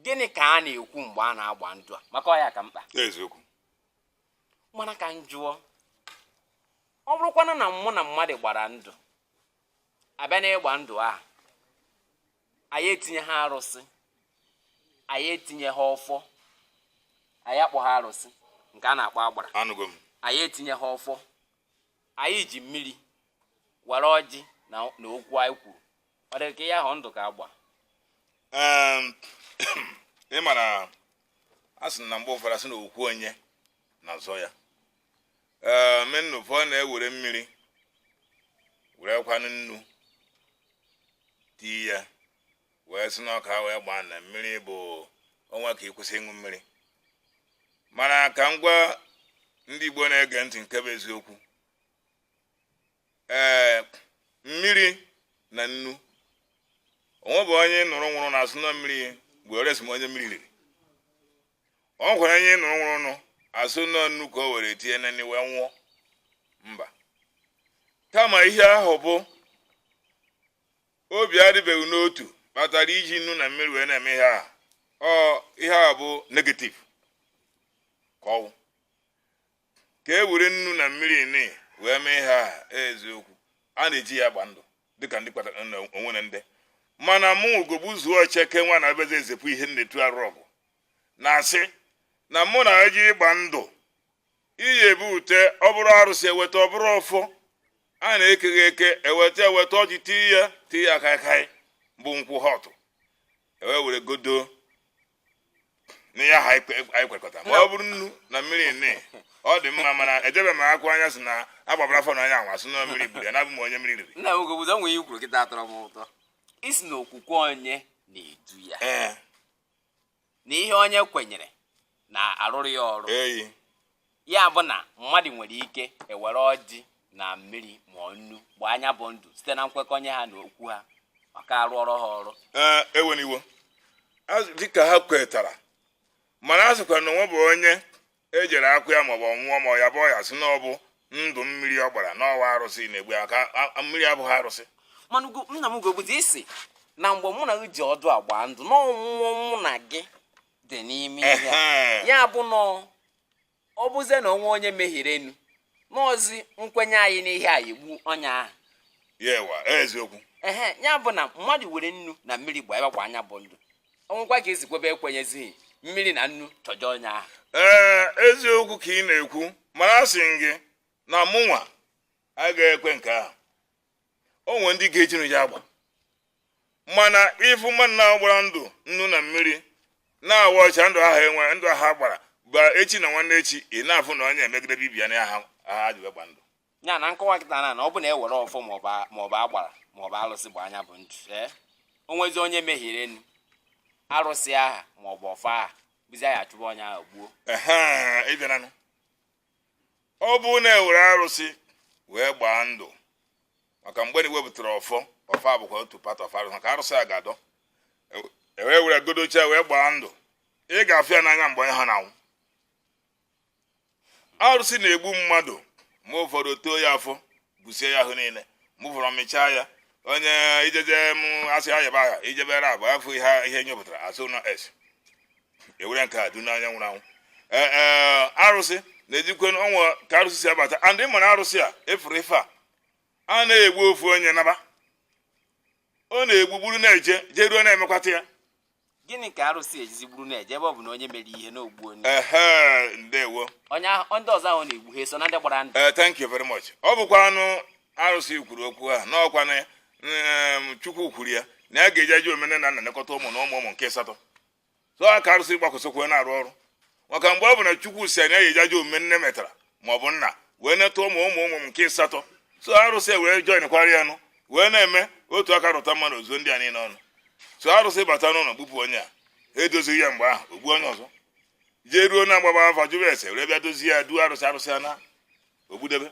gịnị ka a na-ekwu mgbe a na-agba ndụ a maka ọ ya ka mkpa mana ka m jụọ ọ bụrụkwana na mụ na mmadụ gbara ndụ abịa na ịgba ndụ ahụ anyị etinyeha arụsị anyị etinyeha ọfọ anyị akpọha arụsị nke a na-akpọ agbara anyị etinyeha ọfọ anyị ji mmiri were ọjị na okwu anyị kwuru ọ dị ka ihe ahụ ndụ ga-agba ị ma na a sị na mgbe ụfọdụ asị na okwu onye na-azọ ya menu ụfọdụ na-ewere mmiri werekwanụ nnu tii ya wee sị na ọka wee gbaa na mmiri bụ o nwee ike ịkwụsị ịṅụ mmiri mana ka m gwa ndị Igbo na-ege ntị nke bụ eziokwu ee eh, mmiri na nnu o nwebu onye nụrụ nwụrụ nụ a sị na mmiri beresọ onye mmiri riri o nwere onye nụrụ nwụrụ nụ a sị na nnu ka o were tinye na nri wee nwụọ mba kama ihe ahụ bụ obi adịbeghị n'otu kpatara e ji nnu na mmiri wee na-eme ihe a ọ ihe a bụ negative ka ọ wụ ka e were nnu na mmiri ni wee mee ihe aha eziokwu a na-eji ya agba ndụ dịka ndị kpatara na o nwere ndị mana mụ Ugogbuzuo cheke nwa na abịazi ezepụ ihe nnetu arụ ọ bụ na a sị na mụ na gị ịgba ndụ iyi e bute ọ bụrụ arụsị e weta ọ bụrụ ọfọ a na-ekeghị eke e weta e weta ọjị tii ya tii ya kaikai bụ nkwụ hot e wee were gọdo n'ihe ahụ anyị kwe- anyị kwekọta ma ọ bụrụ nnu na mmiri nne ọ dị mma mana ejebe m akwa onye a sị na agbabara afọ na onye a nwa sị na mmiri gburu ya na abụghị onye mmiri riri nna m Ugogbuzuo o nwe ihe i kwuru kịta tọrọ m ụtọ i si na okwukwe onye na-edu ya ee na ihe onye kwenyere na-arụrụ ya ọrụ eyi ya bụ na mmadụ nwere ike iwere ọjị na mmiri ma ọ nnu gbaa nya bụ ndụ site na nkwekọnye ha na okwu ha ga-arụrụ ha ọrụ ee eweniwo Azụ- dịka ha kwetara mana a sịkwa na o nwebu onye e jere akwa ya maọbụ ọ nwụọ ma ya bụ ọya a sị na ọ bụ ndụ mmiri ọ gbara na ọ wụ arụsị na-egbu ya ka a- a- mmiri abụghị arụsị mana ugo nna m Ugogbuzuo i si na mgbe mụ na gị ji ọdụ agba ndụ na ọnwụ mụ na gị dị n'ime ihe a. Ehe. ya bụ na ọ bụzie na o nwe onye mehierenụ na ọ zi nkwenye anyị n'ihe a ya-egbu onye ahụ ya ewa eziokwu ehe ya bụ na mmadụ were nnu na mmiri gbaa ị gbakwa nya bụ ndụ o nwekwa ka e si kwebe ekwenyezighị mmiri na nnu chọje onye ahụ ee eziokwu ka ị na-ekwu mana a sị m gị na mụnwa agaghị ekwe nke ahụ o nwere ndị ga-ejinụ ya agba mana ị fụ mmadụ na-agbara ndụ nnu na mmiri na-awa ọcha ndụ ahụ enwe ndụ ahụ agbara bụ echi na nwanne echi ị na-afụ na onye emegide ibe ya na aha ha ji gba ndụ ya m na-akọwa kịta na ọ bụ na e were ọfọ maọbụ agbara maọbụ alụsị gba nya bụ ndụ ee o nwezie onye mehierenụ arụsị aha maọbụ ọfọ aha bụzi nya achụba onye ahụ gbuo ọ bụ na e were arụsị wee gbaa ndụ maka mgbe na i wepụtara ọfọ ọfọ abụkwa otu part of arụsị maka arụsị a gọdo e wee were gọdocha wee gbaa ndụ ị ga-afụ ya n'anya mgbe onye aha na-anwụ arụsị na-egbu mmadụ ma ụfọdụ ọ too ya afọ busie ya ahụ niile mụfụrụ ọmịcha ya onye ijeje m asị ayaba aha ijebere abụ afọ ihe ihe nyopụtara asụ na ese e were nke a du n'anya nwụrụ anwụ ee ee arụsị na-ejikwe ọnwa ka arụsị si abata and ị mara arụsị a ị fụrụ ife a a na-egbu ofu onye naba ọ na-egbugburu na-eje jeruo na e mekwata ya gịnị ka arụsị ejizi gburu na-eje ebe ọ bụ na onye mere ihe n'ogbu onye ehe ndewo onye ahụ ndị ọzọ ahụ na-egbu ha eso na ndị gbara ndụ ee thank you very much ọ bụkwanụ arụsị kwuru okwu ahụ n'ọkwa na em, chukwu kwuru ya na ya ga-eji ajọ omume nna na-elekọta ụmụ na ụmụ ụmụ nke asatọ so a ka arụsị gbakwụsịkwa na-arụ ọrụ maka ebe ọ bụ na chukwu sị na ya eji ajọ omume nne metara ma ọ bụ nna wee neta ụmụ ụmụ ụmụ nke ịsatọ so arụsị wee joinkwara ya nụ wee na-eme otu aka rụta mmanụ o zuo ndị a niile ọnụ so arụsị bata n'ụlọ gbupụ onye a edozighị ya mgbe ahụ o gbuo onye ọzọ jee ruo na a gbaba afa jụrụ ese were bịa dozie ya duo arụsị arụsị ana o gbudebe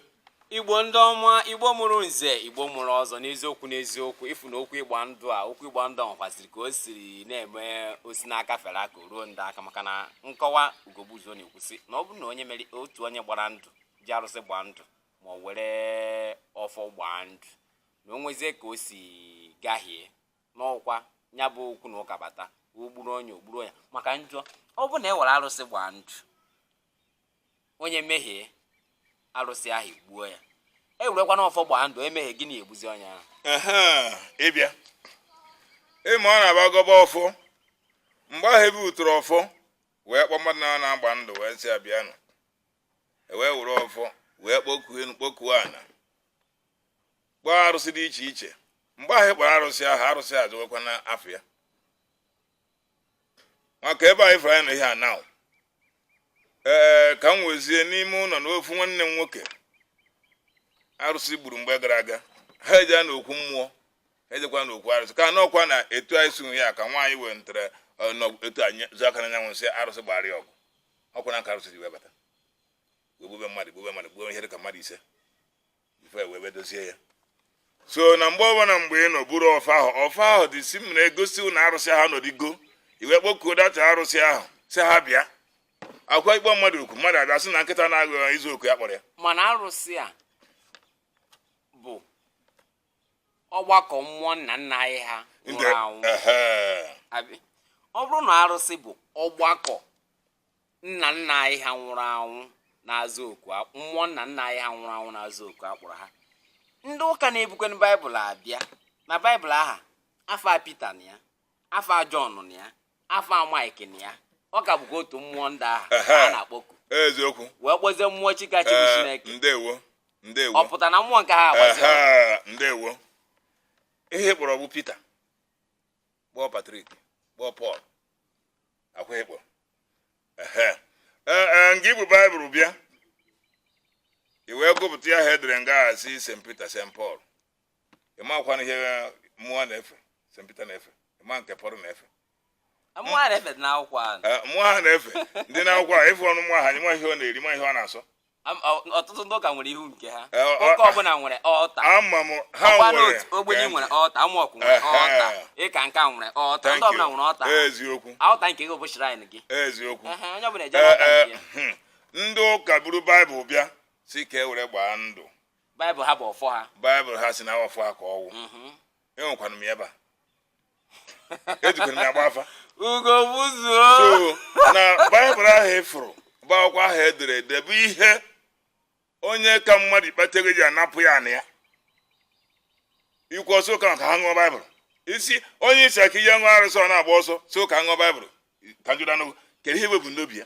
igbo ndị ọma igbo mụrụ nze igbo mụrụ ọzọ n'eziokwu n'eziokwu ị fụ na okwu ịgba ndụ a okwu ịgba ndụ nwekwaziri ka o siri na-eme o si n'aka fere aka ruo ndị aka maka na nkọwa ugogbuzuo na-ekwusị na ọ bụrụ na onye mere otu onye gbara ndụ ji arụsị gbaa ndụ ma o were ọfọ gbaa ndụ na o nwezie ka o si gahie n'ọkwa ya bụ okwu na ụka bata o gburu onye o gburu onye maka njọ ọ bụ na e were arụsị gbaa ndụ onye mehie arụsị ahụ gbuo ya e werekwana ọfọ gbaa ndụ e mehie gịnị egbuzi onye ahụ Ehe, ị bịa ịma na a bịa gọba ọfọ mgbe ahụ e butere ọfọ wee kpọ mmadụ na na-agba ndụ wee sị ya bịanụ e wee were ọfọ wee kpọkuo enu kpọkuo ana kpọọ arụsị dị iche iche mgbe ahụ ị kpọrọ arụsị ahụ arụsị azawekwa na afa ya maka ebe anyị fụrụ anyị nọ ihe a now ee ka m wezie n'ime ụlọ na ofu nwanne m nwoke arụsị gburu mgbe gara aga ha eje na okwu mmụọ ha ejekwa na okwu arụsị ka n'ọkwa na etu anyị si ya ka nwaanyị wee ntere etu anyị zụ aka n'anyanwụ na-asị arụsị gbara ya ọgụ ọkwa na ka arụsị ji wee bata wee gbube mmadụ gbube mmadụ gbube ihe dị ka mmadụ ise before e wee dozie ya so na mgbe ọbụla mgbe unu buru ọfọ ahụ ọfọ ahụ dị si m na-egosi na arụsị ha nọdịgo ị wee kpọkuo that arụsị ahụ sị ha bịa ọkwa ị kpọọ mmadụ okwu mmadụ abịa sị na nkịta na-agụ ya izu oku ya kpọrọ ya mana arụsị a bụ ọgbakọ mmụọ nna nna anyị ha nwụrụ anwụ Ehe. Abi, ọ bụrụ na arụsị bụ ọgbakọ nna nna anyị ha nwụrụ anwụ na-aza oku mmụọ nna nna anyị ha nwụrụ anwụ na-aza oku a kpọrọ ha ndị ụka na-ebukwanụ baịbụl abịa na baịbụl ahụ afa Pita na ya afa Jọn na ya afa Maịk na ya ọ ka bụkwa otu mmụọ ndị ahụ a na-akpọku eziokwu wee kpọzie mmụọ chika chibụ eh, Chineke ndewo ndewo ọ pụta na mmụọ nke ha agbazi ndewo ihe ị kpọrọ bụ Pita kpọọ Patrick kpọọ Pọl ọkwa ị kpọ ehe ee ee nga i bu baịbụl bịa i wee gụpụta ya ha edere nga a sị st peter st paul ị makwanụ ihe mmụọ na-efe st peter na-efe ị ma nke pọl na-efe Mmụọ a na-efe dị n'akwụkwọ ahụ. Ee, mmụọ ha na-efe dị n'akwụkwọ a efe ọnụ mmụọ ha anyị ma ihe ọ na-eri ma ihe ọ na-asọ Am- ọ- ọtụtụ ndị ụka nwere ihu nke ha Eh, ọ- ụka ọbụla nwere altar ama m ha ọkwa nwere n'otu Ogboni ka- nwere altar AMORC nwere Ehe. altar Eckankar nwere altar Thank ndị ọbụla you. nwere altar eziokwu altar nke gị bụ shrine gị eziokwu Ehe, onye ọbụla eje Eh, n'altar eh, nke ya hmm. ndị ụka buru baịbụl bịa sị ka e were gbaa ndụ baịbụl ha bụ ọfọ ha baịbụl ha sị na ọfọ ha ka ọ wụ Mhm. enwekwanụ m ya ebe a ejikwara m ya gba afa ugo buzuo sọ na baịbụl ahụ ị fụrụ bụ akwụkwọ ahụ edere ede bụ ihe onye ka mmadụ ikpata ego ji anapụ ya ana ya ikwu ọsọ ụka ka ha ṅụọ baịbụl ị sị onye ị sị ka e je ṅụọ arụsị ọ na-agba ọsọ sị ka a ṅụọ baịbụl ka njụdanụ kedu ihe bụ n'obi ya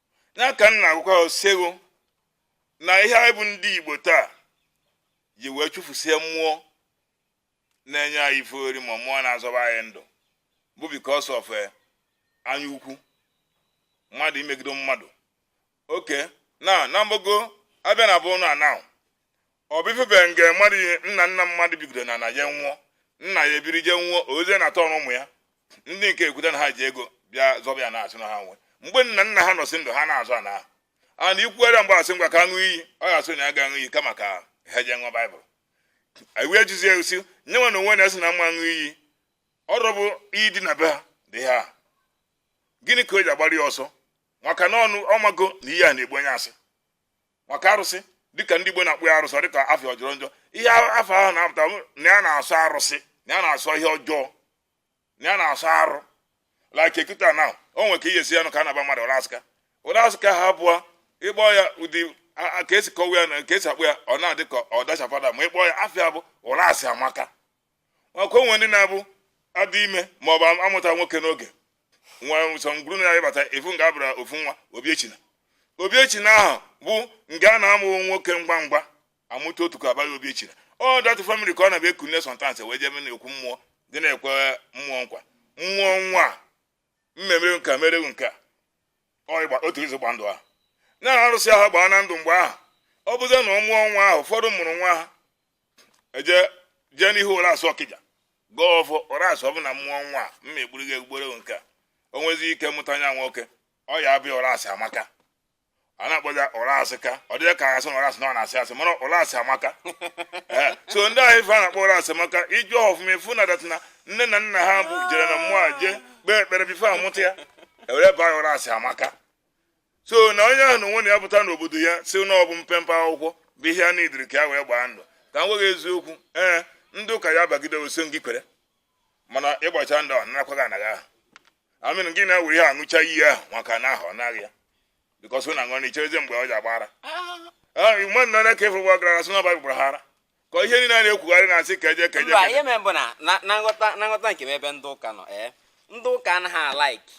ya ka m na-agwakwa osego na ihe anyị bụ ndị Igbo taa ji wee chụfusie mmụọ na-enye anyị ife ori ma mmụọ na-azọba anyị ndụ bụ because of eh, anya ukwu mmadụ imegide mmadụ oke ana na mgbagọ a bịa na bụ ụnụ ana ọ bụ ife bere nge mmadụ ihe nna nna mmadụ bigodo n'ana ya nwụọ nna ya ebiri je nwụọ ozie na atọ ụmụ ya ndị nke ekwute na ha ji ego bịa zọba ya na-asị na ha nwe mgbe nna nna ha nọsị ndụ ha na-azọ ana ahụ a na ikwuere mgbe a sị ngwa ka a ṅụọ iyi ọ ga-asị na ya ga-aṅụ iyi kama ka ha jee ṅụọ baịbụl iwu ejizi ya osi nye nwa na onwe na-asị na m ma aṅụ iyi ọ rọbụ iyi dị na be ha dị ha gịnị ka o ji agbara ya ọsọ maka na ọnụ ọ mago na iyi a na-egbu onye asị maka arụsị dịka ndị Igbo na-akpọ ya arụsị ọ dịka afa ọ jọrọ njọ ihe afa ahụ na-apụta na ya na-asọ arụsị na ya na-asọ ihe ọjọọ na ya na-asọ arụ like ekita na o nwere ka ihe si ya nụ ka a na-aba mmadụ Ụrasịka Ụrasịka ha abụọ ịkpọ ya ụdị ka esi kọwa ya na ka esi akpọ ya ọ na-adị ka ọ dachapụta ma ịkpọ ya afa ya bụ Ụrasịamaka maka o nwe ndị na-abụ a dị ime ma ọ bụ amụta nwoke n'oge nwa nsọ ngwuru na ya ị bata ị fụ nga a bara ofu nwa Obiechina Obiechina ahụ bụ nga a na-amụ nwoke ngwa ngwa amụta otu ka a ba ya Obiechina ọ that family ka ọ na-abịa ekunye sọntansị wee jebe n'okwu mmụọ dị na-ekwe mmụọ nkwa mmụọ nwa mmemere nka mere nke a otu izu gba ndụ ahụ na arụsị ahụ gbaa na ndụ mgbe ahụ ọ bụzi na ọ mụọ nwa ahụ ụfọdụ mụrụ nwa ha eje jee n'ihu ụrasị ọkịja gọọ ọfọ ụrasị ọ bụ na m mụọ nwa m egburu gị egbugborewo nke a o nwezi ike mụta ya nwoke ọ ya aba ya ụrasị amaka a na-akpọzi ya ụra asị ka ọ dịghị ka asị na ụrasị na ọ na-asị asị mana ụrasị amaka Ee, so ndị ahụ ife a na-akpọ ụra asị amaka ị jụọ ọfụma ị fụ na that na nne na nna ha bụ jere na mmụọ a jee kpee ekpere before a mụta ya e were baa ya ụrasị amaka so na onye ahụ na onwe na ya pụta n'obodo ya si na ọ bụ mpempe akwụkwọ bụ ihe a na-ediri ka ya wee gbaa ndụ ka m gwa gị eziokwu ee ndị ụka ya bagide ọ sọ ngị kwere mana ịgbacha ndụ ọ nakwaghị anaghị ahụ I mean gị na-ewere ihe aṅụcha iyi ahụ maka na ahụ ọ naghị ya because na aṅụ na icherezi mgbe ọ ji agbara mgbe nna na ka ị fụrụ gwa gara asị na baịbụl gbara ha ara ka ihe niile a na-ekwugharị na-asị ka eje ka eje mba ihe mere bụ na na- na nghọta na nghọta nke m ebe ndị ụka nọ ee ndị ụka anaghị alike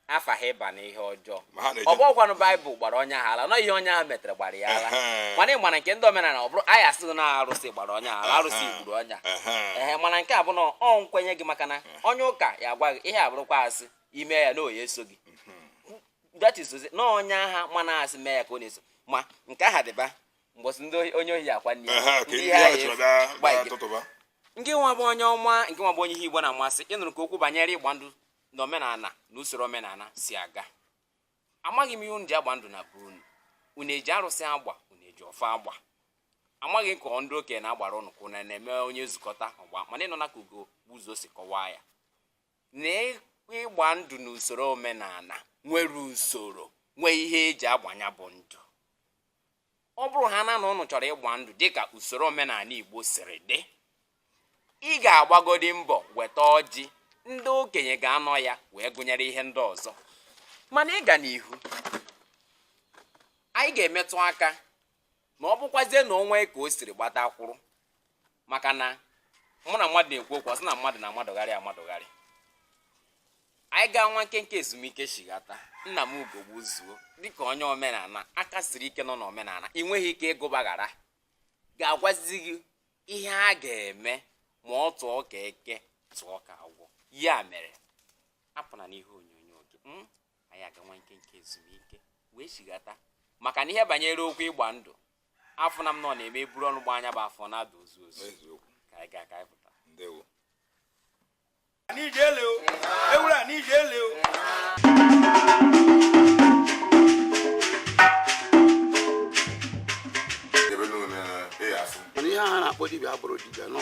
afa ha ịba na ihe ọjọọ ma ha na-eje ọ bụkwanụ baịbụl gbara onye ahụ ala na ọ ihe onye ahụ metere gbara ya ala Ehe. mana ị mara nke ndị omenala ọ bụrụ anyị asị gị na arụsị gbara onye ahụ ala arụsị Ehe. gburu onye ahụ Ehe. ee mana nke a bụ na ọ nkwenye gị maka na onye ụka ya agwa gị ihe ọ bụrụkwa asị i mee ya na ọ ya-eso gị that is to say, na onye ahụ ma na asị mee ya ka ọ na-eso ma nke aha dịba mgbọsị ndị ohi- onye ohi akwa nne Ehe, ka ndị ahụ chọrọ bịa- bịa tụtụba. nke nwa bụ onye ọma nke nwa bụ onye ihe igbo na-amasị ị nụrụ ka okwu banyere ịgba ndụ na omenala na usoro omenala si aga amaghị m ihe unu ji agba ndụ na be unu unu eji arụsị agba unu eji ọfọ agba amaghị ka ndị okenye na-agbara ụnụ ka ụnụ na-eme onye zukọta ọ gbaa mana ị nụna ka ugogbuzuo si kọwaa ya na ịgba ndụ na usoro omenala nwere usoro nwee ihe eji agba nya bụ ndụ ọ bụrụ ha na na ụnụ chọrọ ịgba ndụ dịka usoro omenala Igbo siri dị ị ga-agbagodi mbọ weta ọjị ndị okenye ga-anọ ya wee gụnyere ihe ndị ọzọ mana ịga n'ihu anyị ga-emetụ aka na ọ bụkwazie na o nwe ka o siri gbatakwụrụ maka na mụ na mmadụ na-ekwu okwu ọ sị na mmadụ na-amadụgharị amadụgharị anyị gaa nwa nkenke ezumike shighata nna m ugogbuzuo dịka onye omenala aka siri ike nọ n'omenala ị nweghị ike ịgụbaghara ga-agwazi gị ihe a ga-eme ma ọ tụọ ka eke tụọ ka agwọ ya mere apụna n'ihe onyonyo gị hmm? anyị aga nwa nkenke ezumike wee shighata maka na ihe banyere okwu ịgba ndụ afụ na m nọ na-eme eburu ọnụ gbaa nya bụ afọ na-ada ụzụ ụzụ eziokwu ka anyị gaa ka anyị pụta ndewo n'ijele o ewuru a n'ijele o debe n'ụlọ ya afụ mana ihe a na-akpọ dibịa abụrụ dibịa nọ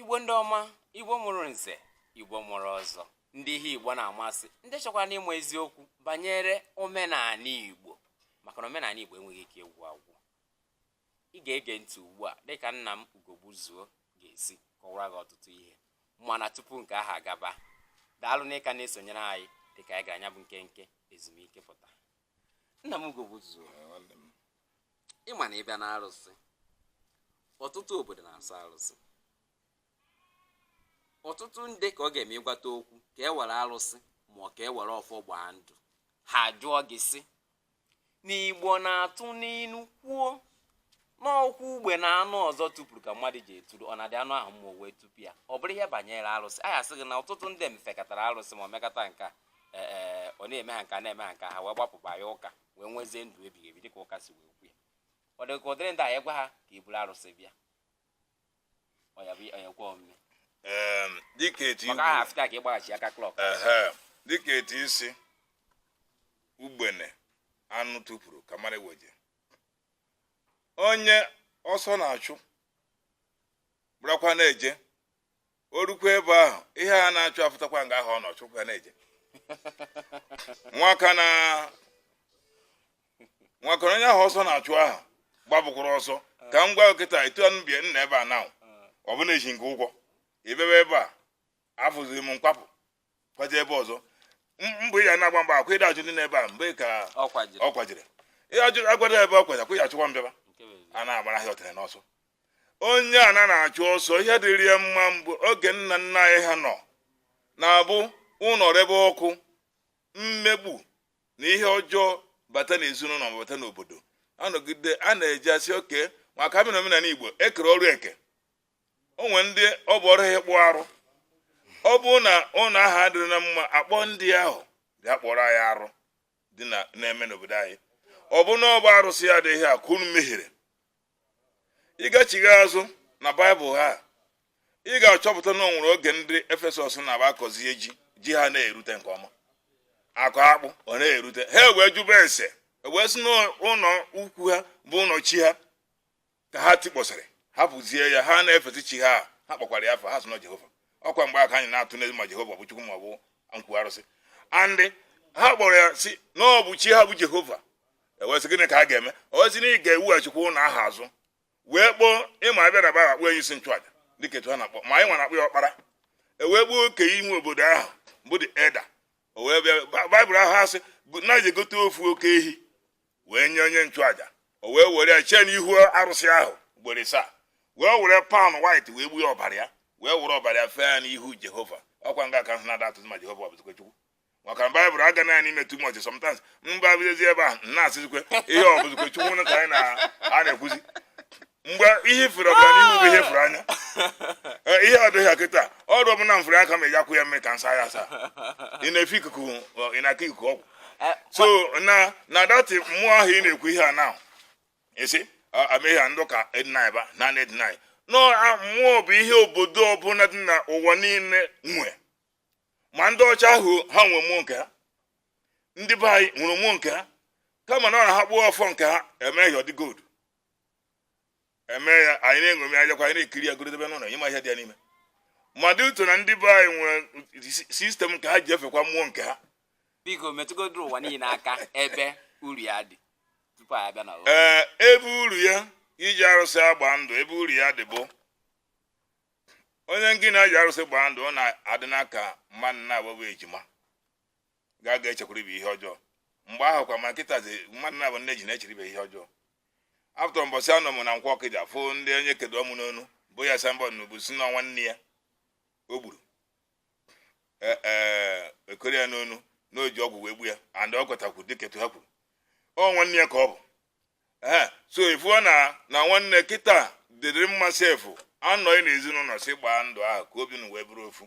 igbo ndị ọma igbo mụrụ nze igbo mụrụ ọzọ ndị ihe igbo na-amasị ndị chọkwanụ ịma eziokwu banyere omenala igbo maka na omenala igbo enweghị ike ịgwụ agwụ ị ga-ege ntị ugbu a dịka nna m ugogbuzuo ga-esi kọwara gị ọtụtụ ihe mana tupu nke ahụ agaba daalụ na ị ka na-esonyere anyị dịka anyị gara nya bụ nkenke ezumike pụta nna m ugogbuzuo ị ma na ị bịa n'arụsị ọtụtụ obodo na-asọ arụsị ọtụtụ ndị ka ọ ga-eme ị gwata okwu ka e were arụsị ma ọ ka e were ọfọ gbaa ndụ ha jụọ gị sị na igbo na-atụ n'inu kwuo n'okwu ugbene anụ ọzọ tụpụrụ ka mmadụ ji eturu ọ na-adị anụ ahụ mma o wee tụpụ ya ọ bụrụ ihe banyere arụsị anyị asị gị na ọtụtụ ndị fekatara arụsị ma ọ mekata nke a e, e, ọ na-eme ha nke a na-eme ha nke a ha wee gbapụ banye ụka wee nwezie ndụ ebighị ebi dịka ụka si wee kwu ya ọ dị ka ụdịrị ndị a ya-agwa ha ka e buru arụsị bịa ọ ya bụ ọ ya-ekwe omume Em, dịka etu maka aha igbo afịta ka ịgbaghachi aka klọk ehe dịka etu i si ugbene anụ tụpụrụ ka mara weje onye ọsọ na-achụ bụrụkwa na-eje o rukwa ebe ahụ ihe a na-achụ afụtakwa nga ahụ ọ nọ chụkwa na-eje nwaka na nwaka na onye ahụ ọsọ na-achụ ahụ gbapụkwara ọsọ ka m gwa nkịta etu anụ bie nna ebe a na ọ bụ na eji nke ụgwọ ebebe ebe a afụziri m kwapụ kwaje ebe ọzọ M- mgbe ị ya na-agba mgba akwa ịda ajụ ndị n'ebe a mgbe ka ọ kwajiri ọ kwajiri ihe ajụ agwada ebe ọ kwaja kwa ya achụkwa m bịaba nke bụ eziokwu. a na-agbara ahịa ọtara n'ọsọ onye a na na-achụ ọsọ ihe dịrị ya mma mgbe oge nna nna anyị ha nọ na-abụ ụlọ rebe ọkụ mmegbu na ihe ọjọọ bata n'ezinụlọ ma bata n'obodo a nọgide a na-eji asị oke maka a bịa n'omenala igbo e kere ọrụ eke o nwere ndị ọ bụ ọrụ ha ịkpụ arụ ọ bụrụ na ụlọ ahụ adịrị na mma a kpọọ ndị ahụ bịa kpụọrọ anyị arụ dị na na-eme n'obodo anyị ọ bụ na ọ bụ arụsị ya adịghị a ka unu mehiere ị gachighaa azụ na baịbụl ha ị ga-achọpụta na o nwere oge ndị efesọs na-aba akọzie ji ji ha na-erute nke ọma a kụọ akpụ ọ na-erute ha wee jụba ese wee sị na ụlọ ukwu ha bụ ụlọ chi ha ka ha tikpọsịrị hapụzie ya ha na-efesi chi ha ha kpọkwara ya afọ ha sị na jehova ọ kwa mgbe aka anyị na-atụ n'ezi ma jehova bụ chukwu ma ọ bụ nkwu arụsị andị ha kpọrọ ya sị na ọ bụ chi ha bụ jehova e wee sị gịnị ka a ga-eme o wee sị na ị ga-eweghachikwa ụlọ ahụ azụ wee kpọọ ị ma a bịa na bara akpọ onye isi nchụaja dịka etu ha na-akpọ ma anyị nwa na-akpọ ya ọkpara e wee kpọọ okenye obodo ahụ bụ the elder o wee bịa Ba- baịbụl ahụ asị na e jee gote ofu oke ehi wee nye onye nchụaja o wee were ya chee n'ihu arụsị ahụ ugboro isaa wee were fowl white wee gbuo ọbara ya wee were ọbara ya fee ya n'ihu jehova ọkwa nga ka ahụ na-ada atụtụ ma jehova ọ bụzikwa chukwu maka na baịbụl aga na n'ime too much sometimes mba abịazi ebe ahụ m na-asịzikwe ihe ọ bụzikwa chukwu na ka anyị na- a na-ekwuzi mgbe ihe ifere ọbara n'ihu bụ ihe fere anya Eh, ihe ọ dịghị kịta ọrụ ọbụla m fere aka m eji akwụ ya mmiri ka nsa ya asa ị na-efe ikuku ọ, ị na-aka ikuku ọgwụ Eh, so na na that mmụọ ahụ ị na-ekwu ihe a na esi ameghị a ndị ụka e-deny ba na na e-deny na a- mmụọ bụ ihe obodo ọbụla dị na ụwa niile nwe ma ndị ọcha ahụ ha nwe mmụọ nke ha ndị be anyị nwere mmụọ nke ha kama na ọ na ha kpụọ ọfọ nke ha e mee ya ọ dị gold eme ya anyị na-eṅomi ajakwa anyị na-ekiri ya goro debe n'ụlọ ịma ihe dị ya n'ime mmadụ uto na ndị be anyị nwere system nke ha ji efekwa mmụọ nke ha biko metụgodo ụwa niile aka ebe uru ya dị tupu anyị abịa na ụlọ ee ebe uru ya iji arụsị agba ndụ ebe uru ya dị bụ onye ngị na ya ji arụsị gbaa ndụ ọ na-adị ka mmadụ naabọ bụ ejima ga aga echekwara ibe ihe ọjọọ mgbe ahụ kwa mana kịta zi mmadụ naabọ nne ji na-echere ibe ihe ọjọọ after mbọsị anọ m na nkwọ ọkịja fụ ndị onye kedo ọmụ n'onu bu ya signboard n'ubu sị na nwanne ya o gburu e, e, e koro ya n'onu na o ji ọgwụ wee gbu ya and ọ kọtakwu dịka etu ha kwuru ọ nwanne ya ka ọ bụ ee so ị fụ na na nwanne kịta dịrị mma sef a nọọ n'ezinụlọ sị gbaa ndụ ahụ ka obi unu wee bụrụ ofu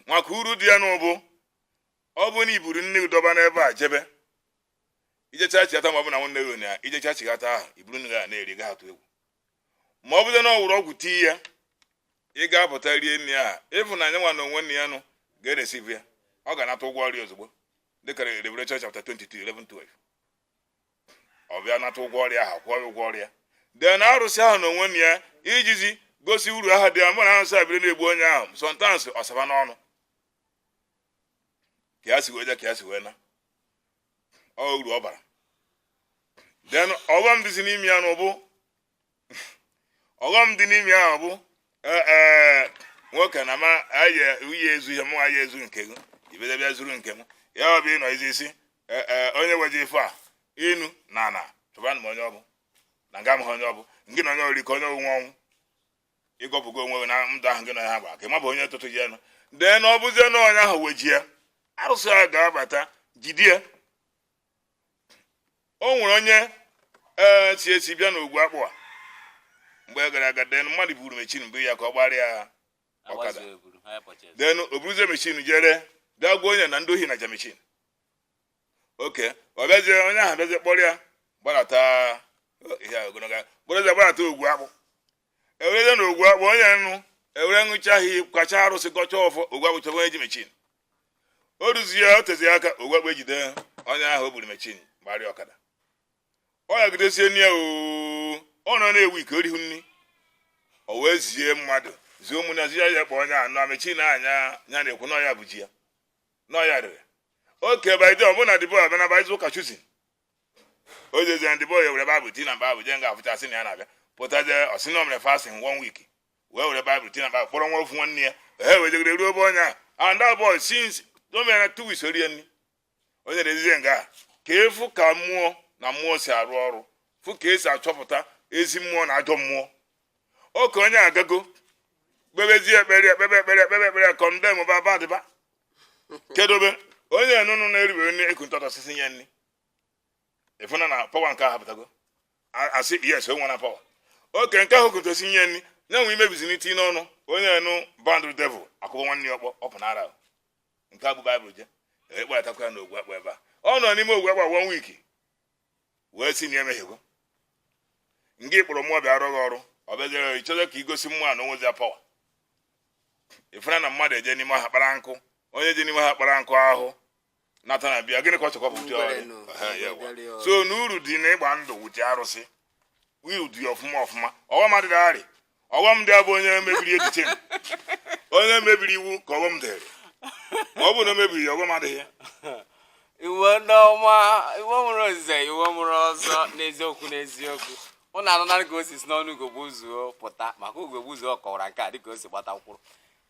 maka uru dị ya n'ụbụ ọ bụ na i buru nri gị dọba n'ebe a jebe i jechaa chigata ma ọ bụ na nwanne gị ụnyaa i jechaa chigata ahụ i buru nri gị a na-eri gị atụ egwu ma ọ bụrụ na o weere ọgwụ tii ya ị ga-apụta rie nri ahụ ị fụ na ya nwa na onwe nne ya nụ ga-eresivu ya ọ ga-anata ụgwọ ọrụ ya ozugbo dịka Revelation chapter 22 11 12 ọ bịa nata ụgwọ ọrụ ya ahụ kwụọ ya ụgwọ ọrụ ya then arụsị ahụ na onwe na ya ejizi gosi uru ahụ dị ya bụ na arụsị a biri na-egbu onye ahụ sometimes ọ saba n'ọnụ ka ya si wee je ka ya si wee na ọ uru ọ bara then ọghọm dịzi n'ime ya na ụbụ ọghọm dị n'ime ya bụ eh, eh, nwoke na ma aye uye ezu ihe mụ aya ezu nke gị ibede bịa zuru nke m ya ọ bụ ịnọ izi isi eh, eh, onye weji ife a inu na ana chọbanụ m onye ọ bụ na nga m ha onye ọ bụ ngị na onye ori ka onye onwe ọnwụ ị gọpụgo onwe gị na ndụ ahụ gị na ya gbara ka ị ma bụ onye tụtụ ji enu then ọ bụzie na onye ahụ wejie arụsị ahụ ga-abata jide ya o nwere onye ee si esi bịa n'ogwu akpụ a mgbe gara aga den mmadụ buru mechin bụ ya ka ọ gbarịa ọkada den o buruzie mechin jere bịa gwa onye na ndị ohi naja mechin oke ọ bịazie onye ahụ bịazie kpọrọ ya gbarata ihe a ogologo kpọrọzie gbarata ogwu akpụ ewere na ogwu akpụ onye nụ ewere ṅụcha ha kacha arụsị gọcha ọfọ ogwu akpụ chọba onye ji mechin o ruzie ya o tezi aka ogwu akpụ ejide onye ahụ o buru mechin gbarịa ọkada ọya gidesie nne ya oo ọ nọ na-ewu ike o rihu nri o wee zie mmadụ zie ụmụnne ya zie ya kpọọ onye anụ na mechin anya ya na-ekwu na ọ ya bụ ji ya na ọ ya rere oke by then ọ bụ na the boy a bazi ụka Chosen o jezie the boy were baịbụl tii na bag jee nga afụcha sị na ya na-abịa pụtazie ọ sị na o mere fasting one week wee were baịbụl tii na bag kpọrọ nwa ofu nwanne ya ha wee jegide ruo ebe onye a and that boy since o mere two weeks o rie nri o nyere ezizie nga a ka efu ka mmụọ na mmụọ si arụ ọrụ fụ ka esi achọpụta ezi mmụọ na ajọ mmụọ oke onye agago kpebezie ekpere ekpebe ekpere ekpebe ekpere kọndemba dịbịa kedobe onye nụnụ na-eriwe nri eku ntọtọ osisi nye nri ị fụna na pawa nke ahụ pụtago a sị yes o nwere pawa oke nke ahụ kuntu osisi nye nri na-enwe imebizi nri tii n'ọnụ onye nụ bind devil akụọ nwanne ya ọkpọ ọ pụ n'ara ahụ. nke a bu baịbụl je a kpọtakwa ya n'ogwu akpụ ebe a ọ nọ n'ime ogwu akpụ one week wee si na emehiego ngị kpọrọ mmụọ bịa arụ gị ọrụ ọ bịaziere ịchọta ka igosi mmụọ na o nwezi pawa ị fụna na mmadụ eje n'ime ọhịa kpara nkụ onye je n'ime ọhịa kpara nkụ ahụ nata na bịa gịnị ka ọ chọkwa bụ so na uru dị na ịgba ndụ with arụsị uru dị ọfụma ọfụma ọghọm adịghị arị ọghọm dị ya bụ onye mebiri echiche onye mebiri iwu ka ọghọm dịrị ma ọ bụ na o mebiri ya ọghọm adịghị igbo ndị ọma igbo mụrụ nze igbo mụrụ ọzọ n'eziokwu n'eziokwu ụnụ anụnara ka o si si n'ọnụ ugogbuzuo pụta maka ugogbuzuo ọ kọwara nke a dịka o si gbata mkpụrụ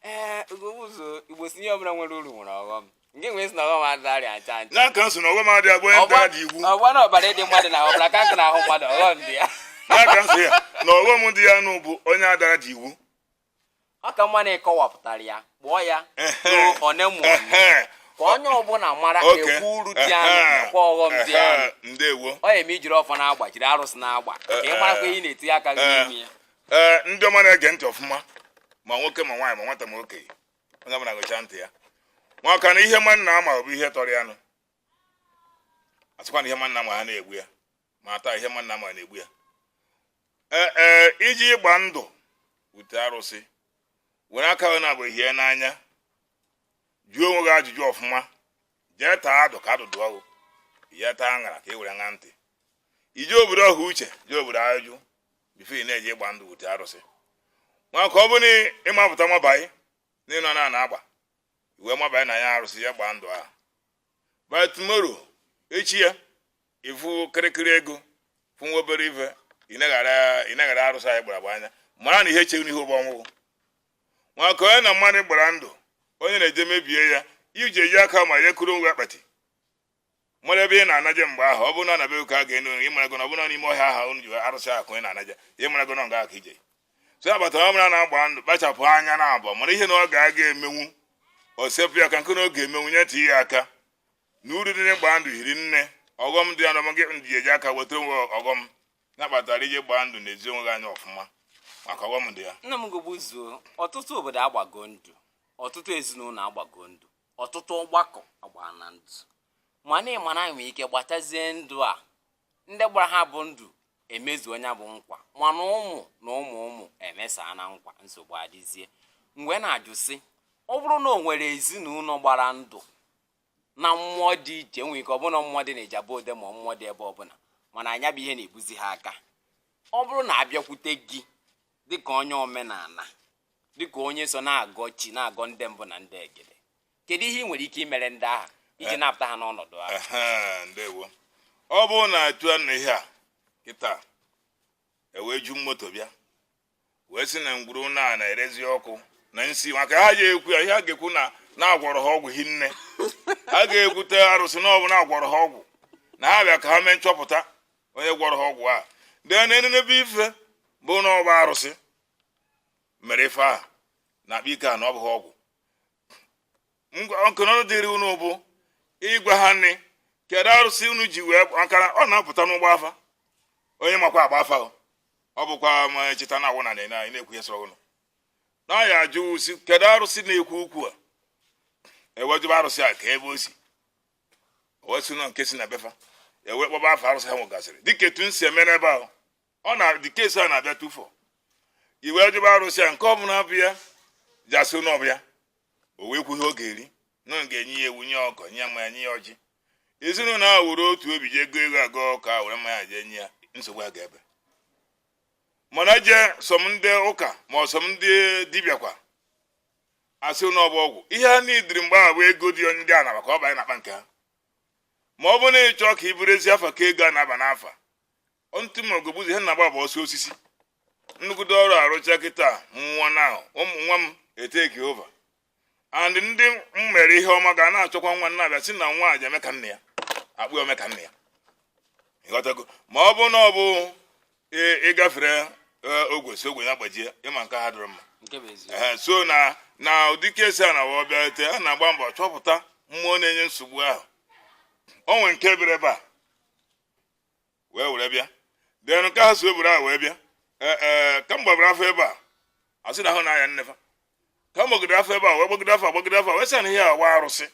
ee ugogbuzuo igbo si ihe ọbụla nwere uru nwere ọghọm Ndị nwe si na ọghọm adịghị arị ya ncha ncha. na nka nso na ọghọm dị ya bụ onye dara dị iwu Ọgwa na ọbara ịdị mmadụ na ọbara ka nkụ na-ahụ mmadụ ọghọm dị ya. na nka nso ya na ọghọm dị ya nụ bụ onye dara dị iwu Ọ ka mma na ị kọwapụtara ya kpụọ ya Ehe. ruo one mụ Ehe. ka onye ọbụla mara Okay. ekwu uru dị ya nụ Ehe. nakwa ọghọm dị Ehe. ya nụ. ndewo Ọ ya eme i jiri ọfọ na-agba jiri arụsị na-agba ka ị marakwa ihe ị na-etinye aka gị n'ime ya. ee ndị ọma na-ege ntị ọfụma ma nwoke ma nwaanyị ma nwata ma okenye onye ọbụla gụcha ntị ya maka na ihe mmadụ na-ama bụ ihe tọrọ ya nụ asịkwa na ihe mmadụ na-ama ha na-egbu ya ma taa ihe mmadụ na-ama na-egbu ya ee ee iji ịgba ndụ wute arụsị were aka gị na-abụ ihe n'anya jụọ onwe gị ajụjụ ọfụma jee taa adụ ka adụ dụọ gị jee taa aṅara ka i were ṅa ntị iji obodo ọha uche jee obodo ajụ before ị na-eji ịgba ndụ wute arụsị maka ọ bụ na ị mapụta nwabaị n'ịnọ na ana agba iwe nwabaị na ya arụsị ya gbaa ndụ ahụ by tomorrow echi ya ị fụ kịrịkịrị ego fụ nwa obere ife ị naghara arụsị anyị gbara agba anya mara na ihe echeghị n'ihe ụgbọ ọnwụgwụ maka onye na mmadụ gbara ndụ onye na-eje mebie ya iji eji aka ma ya kụrụ nwa akpati mara ebe ị na-anaje mgbe ahụ ọ bụrụ na anabe ụka ga-enu ị marago na ọ bụrụ n'ime ọhịa ahụ unu ji arụsị ahụ ị na-anaje ị marago na nga aka ije so ya batara ọbụla na-agba ndụ kpachapụ anya na abụọ mara ihe na ọ ga-aga emenwu o sepụ ya aka nke na ọ ga-emenwu tinye ya aka na uru dị n'ịgba ndụ hiri nne ọghọm dị ya na ọmụgị ndị eji aka weta onwe ọghọm na-akpatara i jee gbaa ndụ nezie onwe gị anya ọfụma maka ọghọm dị ya nna m gogbu zuo ọtụtụ obodo agbago ndụ ọtụtụ ezinụlọ agbago ndụ ọtụtụ ọgbakọ agbaana ndụ mana ị ma na e nwere ike gbatazie ndụ a ndị gbara ha bụ ndụ emezuo nya bụ nkwa mana ụmụ na ụmụ ụmụ emesaa na nkwa nsogbu adịzie m wee na-ajụ sị ọ bụrụ na o nwere ezinụlọ gbara ndụ na mmụọ dị iche nwere ike ọ bụrụ na mmụọ dị na ijebu ode ma mmụọ dị ebe ọbụla mana nya bụ ihe na-ebuzi ha aka ọ bụrụ na a bịakwute gị dịka onye omenala dịka onye so na-agọ chi na-agọ ndị mbụ na ndị egede kedu ihe ị nwere ike imere ndị ahụ iji eh. napụta ha n'ọnọdụ ahụ ndewo ọ bụrụ na atụa na ihe a kịta e wee ju moto bịa wee sị na ngwuru na na-erezi ọkụ na nsi maka ha ji ekwu ya ihe ha ga-ekwu na a gwọrọ ha ọgwụ hinne ha ga-ekwute arụsị na ọ bụ na a gwọrọ ha ọgwụ na ha bịa ka ha mee nchọpụta onye gwọrọ ha ọgwụ a dee na enenebe ife bụ na ọ bụ arụsị mere ife a na-akpa ike a na ọ bụghị ọgwụ nkụnọrụ dịrị unu bụ ịgwa anyị kedu arụsị unu ji wee maka na ọ na-apụta n'ịgba afa onye makwa agba afa ọ bụkwa ma cheta na awụ na na anyị na-ekwu ihe sọrọ unu na ya ajụ sị kedu arụsị na-ekwu okwu a e wee jụba arụsị a kee ebe o si wee sị na nke si na be fa e wee kpọba afa arụsị ha nwegasịrị dịka etu m si eme n'ebe ahụ ọ na ụdị case a na-abịa tupu i wee jụba arụsị ya nke ọbụla bụ ya ji asị na ọ bụ ya o wee kwuo ihe ọ ga-eri na m ga-enye ya ewu nye ọkụkọ nye ya mmanya nye ya ọjị ezinụlọ ahụ were otu obi jee go ewu a go ọkụkọ a were mmanya jee nye ya nsogbu a ga-ebe mana jee some ndị ụka ma ọ some ndị dibịa kwa asị na ọbụ ọgwụ ihe a n'idiri mgbe ahụ bụ ego dị ndị a na-aba ka ọ banye n'akpa nke ha ma ọ bụ na ịchọ ka ị bụrụ ezi afa ka ego a na-aba n'afa ntụ mmụọ ga-egbuzi ihe na-agba bụ ọsọ osisi nnukwute ọrụ arụcha kịta nwa na ụmụ nwa m etake over and ndị m mere ihe ọma ga na-achọkwa nwa na-abịa sị na nwa a ja-eme ka nna ya akpọọ ya ome ka nna ya ịghọtago ma ọ bụ na ọ bụ ị- ịgafere eh, ogwe si ogwe ya gbajie ịma nke ha dịrị mma nke bụ eziokwu Ehe, so na na ụdị case a nwa bịate a na-agba mbọ chọpụta mmụọ na-enye nsogbu ahụ o nwere nke bịara ebe a wee were bịa then nke ha si wee buru a wee bịa ee eh, eh, ka m gbabara afa ebe a asị na ahụ na-aya nne fa ka m gbagide afa ebe a wee gbagide afa gbagide afa wee sị na ihe awa arụsị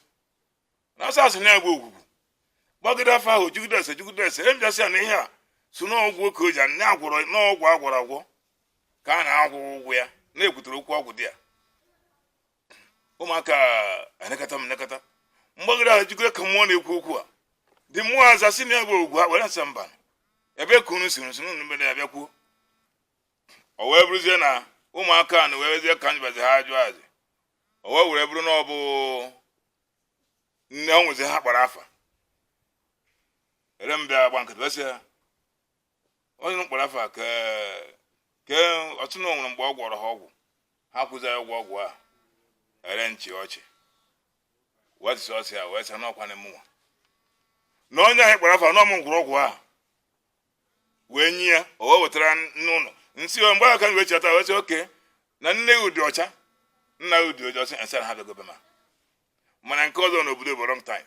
na asị asị na ya bụ Ogwugwu gbagide afa ahụ jụgide ese jụgide ese e m bịa sị ya na ihe a so n'ọgwụ oke oji na agwọrọ n'ọgwụ agwọrọ agwọ ka a na-akwụ ụgwọ ya na-ekwutere okwu ọgwụ dị ya ụmụaka anekọta m nekọta m gbagoro ahụ jikọrọ ka mmụọ na-ekwu okwu a the mmụọ aza sị na ya bụ ọgwụ a were asa mba ebe ka unu si nsi unu mbe na-abịa kwuo o wee bụrụzie na ụmụaka na wee wezie ka m jụbazi ha ajụ azị o wee were bụrụ na ọ bụ nne ọ nwezi ha kpara afa e were m bịa gba nkịtị wee sị ya onye m kpara afa ka ke ọtụ na o nwere mgbe ọ gwọrọ ha ọgwụ ha kwụzi ya ụgwọ ọgwụ a e were m chị ọchị wee tụsị ọsị ya wee sị n'ọkwa na mụnwa na onye ahụ kpara afa na ọ mụ gwọrọ ọgwụ ahụ wee nye ya o wee wetara unu m sị o mgbe a ka wee cheta wee sị okay na nne gị ọ dị ọcha nna gị ọ dị ọcha ọsị nsị ha bịagobe ma mana nke ọzọ n'obodo bụ wrong time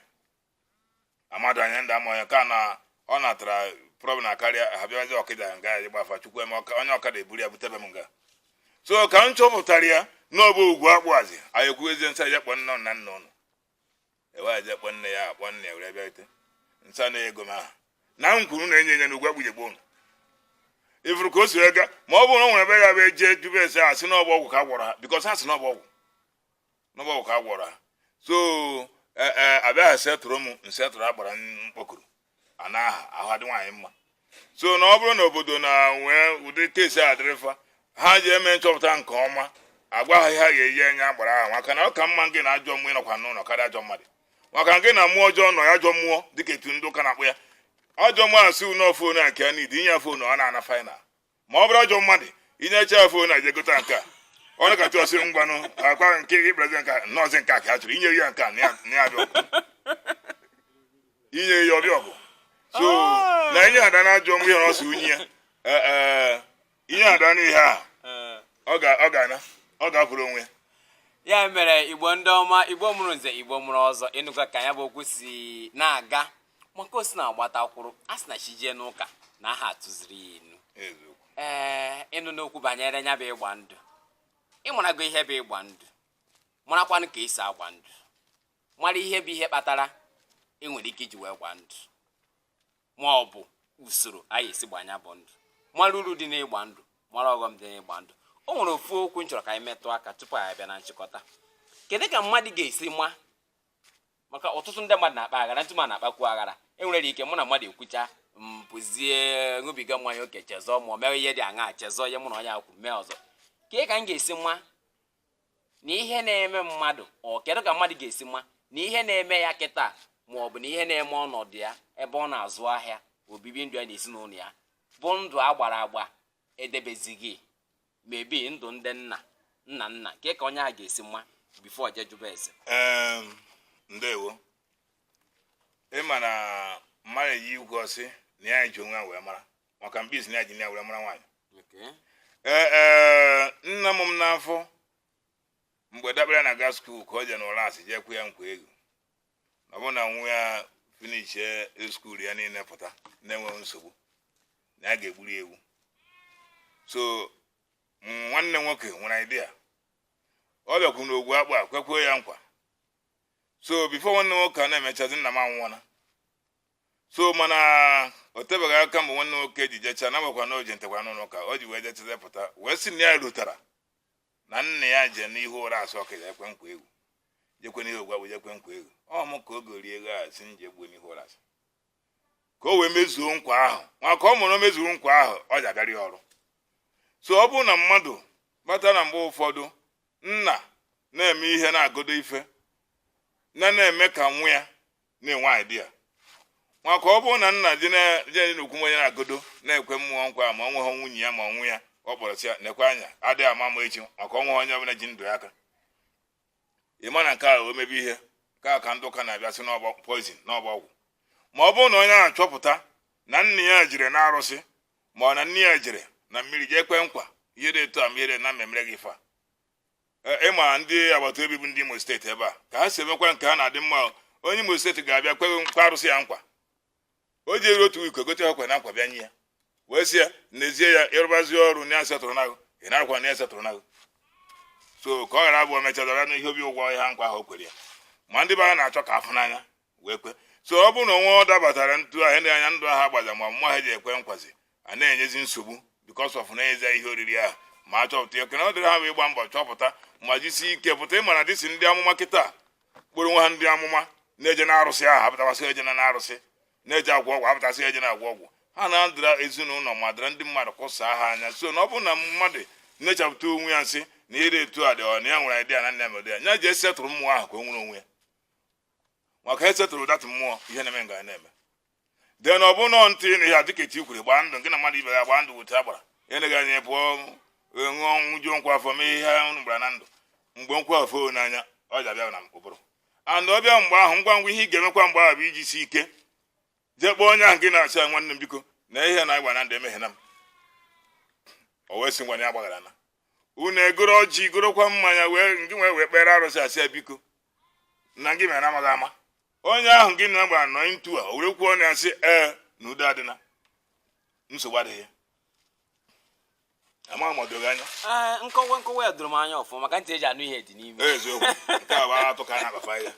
amadụ anya ndị ama onye ka na ọ natara problem akarịa ha bịazi ọkịda nga ya gbafa chukwu eme onye ọkada eburu ya butebe m nga so ka m chọpụtara ya n'ọbụ ugwu akpụazi anyị ekwuezie m sị ya kpọ nne na nna unu e wee jee kpọ nne ya akpọ nne ya were bịarute m sị na ego m ahụ na m kwuru na-enye enye na ugwu akpụjegbo unu ị fụrụ ka o si ega ma ọ bụrụ na o nwere ebe ya bụ eje jụbe ese asị n'ọbụ ọgwụ ka a gwọrọ ha because ha sị n'ọbụ ọgwụ na ọ bụ ọgwụ ka a gwọrọ ha so e, e, abịaghị setụrụ m nsetụrụ agbara mkpọkuru a na aha ahụ adị nwaanyị mma so na ọ bụrụ na obodo na nwee ụdị case a dịrị fa ha jee mee nchọpụta nke ọma agwa ha ihe ha ga-eji nye agbara ahụ maka na ọ ka mma gị na ajọ mmụọ ịnọkwa n'ụlọ karịa ajọ mmadụ maka gị na mmụọ ọjọọ nọ ya ajọ mmụọ dịka etu ndị ụka na-akpọ ya ajọ mmụọ asị n'ofu onye nke ya need inye ya ife ọ na-ana final ma ọ bụrụ ajọ mmadụ inyecha ife ọ na ejegote nke a ọ nọkata sị ngwanụ akwa nke ịbịazi nke no ọ sị nke a ka ọ chọrọ inye ya nke a na ya bịa ọgụ inye ya ọ bịa ọgụ so ah. na inye ada na ajọ mmụọ ihe ọ sị nye ya eh, eh, inye ada n'ihe a eh. ọ ga-ana ọ ga-apụrụ onwe ya mere igbo ndị ọma igbo mụrụ nze igbo mụrụ ọzọ ịnụkwa ka ya bụ okwu si na-aga maka o si na agbata kwuru a sị na chi jee n'ụka na aha atụziri ya inu ee ịnụna okwu banyere ya bụ ịgba ndụ ịmarago ihe bụ ịgba ndụ marakwanụ ka esi agba ndụ mara ihe bụ ihe kpatara ị nwere ike iji wee gba ndụ ma ọ bụ usoro anyị esi agba ya bụ ndụ mara uru dị n'ịgba ndụ mara ọghọm dị n'ịgba ndụ o nwere ofu okwu m chọrọ ka anyị metụ aka tupu anyị abịa na nchịkọta kedu ka mmadụ ga-esi ma maka ọtụtụ ndị mmadụ na-akpa aghara ntụ ma na-akpakwu aghara enwere ike mụ na mmadụ ekwucha m pụzie ṅụbiga mmanya oke chezọọ ma ọ mewe ihe dị aṅaa chezọọ ihe mụ na onye a kwu mee ọzọ kee ka m ga-esi ma na ihe na-eme mmadụ ọ kedu ka mmadụ ga-esi ma na ihe na-eme ya kịta ma ọ bụ na ihe na-eme ọnọdụ ya ebe ọ na-azụ ahịa obibi ndụ ya na ezinụlọ ya bụ ndụ a gbara agba edebezighị maybe ndụ ndị nna nna nna kee ka onye a ga-esi ma before o jee jụba ese ndewo ị ma na mmadụ eji ekwu sị na ya ji onwe ya wee mara maka mbe sị na ya ji nne ya wee mara nwaanyị ee ee nna mụ m n'afọ mgbe dabere na-aga school ka o je n'ụlasị jee kwe ya nkwa ewu ọ bụrụ na nwa ya finishie school ya niile pụta na-enweghị nsogbu na ya ga-egburu ya ewu so nwanne nwoke nwere idea ọ bịakwu n'ogwu akpụ a kwekwuo ya nkwa so before nwanne nwoke a na-emechazi nna m anwụọla so mana o tebeghị aka mgbe nwanne nwoke ji jecha na nwekwa na o ji ntekwa n'ụlọ ụka o ji wee jechazie pụta wee sị na ya rotara na nna ya je n'ihu ụrasị ọkịja kwe nkwa ewu jekwa n'ihu ogwu akpụ jee kwe nkwa ewu ọ mụ ka o goro ewu a sị m jee gbuo n'ihu ụrasị ka o wee mezuo nkwa ahụ maka ọ bụrụ o mezuo nkwa ahụ ọ ja-agarị ọrụ so ọ bụrụ na mmadụ mata na mgbe ụfọdụ nna na-eme ihe na-agodo ife na na-eme ka nwa ya na-enwe idea maka ọ bụrụ na nna gị na-eje n'okwu onye na-agọdo na-ekwe mmụọ nkwa ma ọ nweghị nwunye ya ma ọ nwa ya ọ kpọrọ sị ya nekwa anya adịghị ama ama echi maka o nweghị onye ọbụla ji ndụ ya aka ịma na nke a o mebe ihe nke a ka ndị ụka na-abịa sị na ọ bụ poison na ọ bụ ọgwụ ma ọ bụrụ na onye ahụ chọpụta na nna ya jere na arụsị ma ọ na nne ya jere na mmiri jee kwe nkwa ihe dị etu a ma ihe dị na mmemme gị fa e, ịma ndị agbata obi bụ ndị Imo steeti ebe a ka ha si emekwa nke ha na-adị mma onye Imo steeti ga-abịa kwe nkwa arụsị ya nkwa o ji eri otu iko gote ọkwa na nkwa bịa nye ya wee sị ya n'ezie ya ịrụbazi ọrụ na-esettle onwe gị ị narakwa na-esettle onwe gị so ka ọ ghara abụ mechadara n'ihe obi ụgwọ ihe nkwa ahụ o kwere ya ma ndị ebe a na-achọ ka a fụ n'anya wee kwe so ọ bụrụ na o nwee ọ dabatara ndụ ahụ ndị anya ndụ ahụ agbaza ma mmụọ ha ji ekwe nkwazi a na-enyezi nsogbu because of na-enyezi ihe oriri ahụ ma a chọpụta ya oke na ọrụ dịrị ha bụ ịgba mbọ chọpụta ma jisi ike pụta ịma na dịsi ndị amụma kịta kpọrọ onwe ha ndị amụma na-eje na arụsị ahụ apụtasị eje na arụsị na-eje agwọ ọgwụ apụtasị eje na agwọ ọgwụ ha na-adịra ezinụlọ ma dịra ndị mmadụ kụsaa ha anya so na ọ bụrụ na mmadụ na-achọpụta onwe ya nsị na ịdị etu a dị ọ na ya nwere idea na nna ya mere ya nya jee settle mmụọ ahụ ka o nwere onwe ya maka e settle that mmụọ ihe na-eme ga na-eme de na ọ bụ nọọ ndụ na ya dịka etu kwuru gbaa ndụ nke na mmadụ ibe ya gbaa ndụ weta agbara eleghị anya pụọ ṅụọ ṅụjuo nkwụ afọ mee ihe unu gbara na ndụ mgbe nkwụ afọ n'anya ọ ji abịa na ụbụrụ and ọ bịa mgbe ahụ ngwa ngwa ihe ị ga-emekwa mgbe ahụ bụ ijisi ike jee kpọọ onye ahụ nke na-asị ya nwanne m biko na ihe anyị gbara na ndụ emehiena m o wee sị ngwa na ya gbagharana unu egoro ọjị gorokwa mmanya wee jee wee wee kpere arụsị asị ya biko na gị mere amaghị ama onye ahụ gị na gbara ndụ a o were kwuo na ya sị ee na udo adịna nsogbu adịghị ya amaghị m o doro gị anya Ee, nkọwa nkọwa ya doro m anya ọfụma maka ntị eji anụ ihe dị n'ime eziokwu nke a bụ atụ ka a na-agbafa ya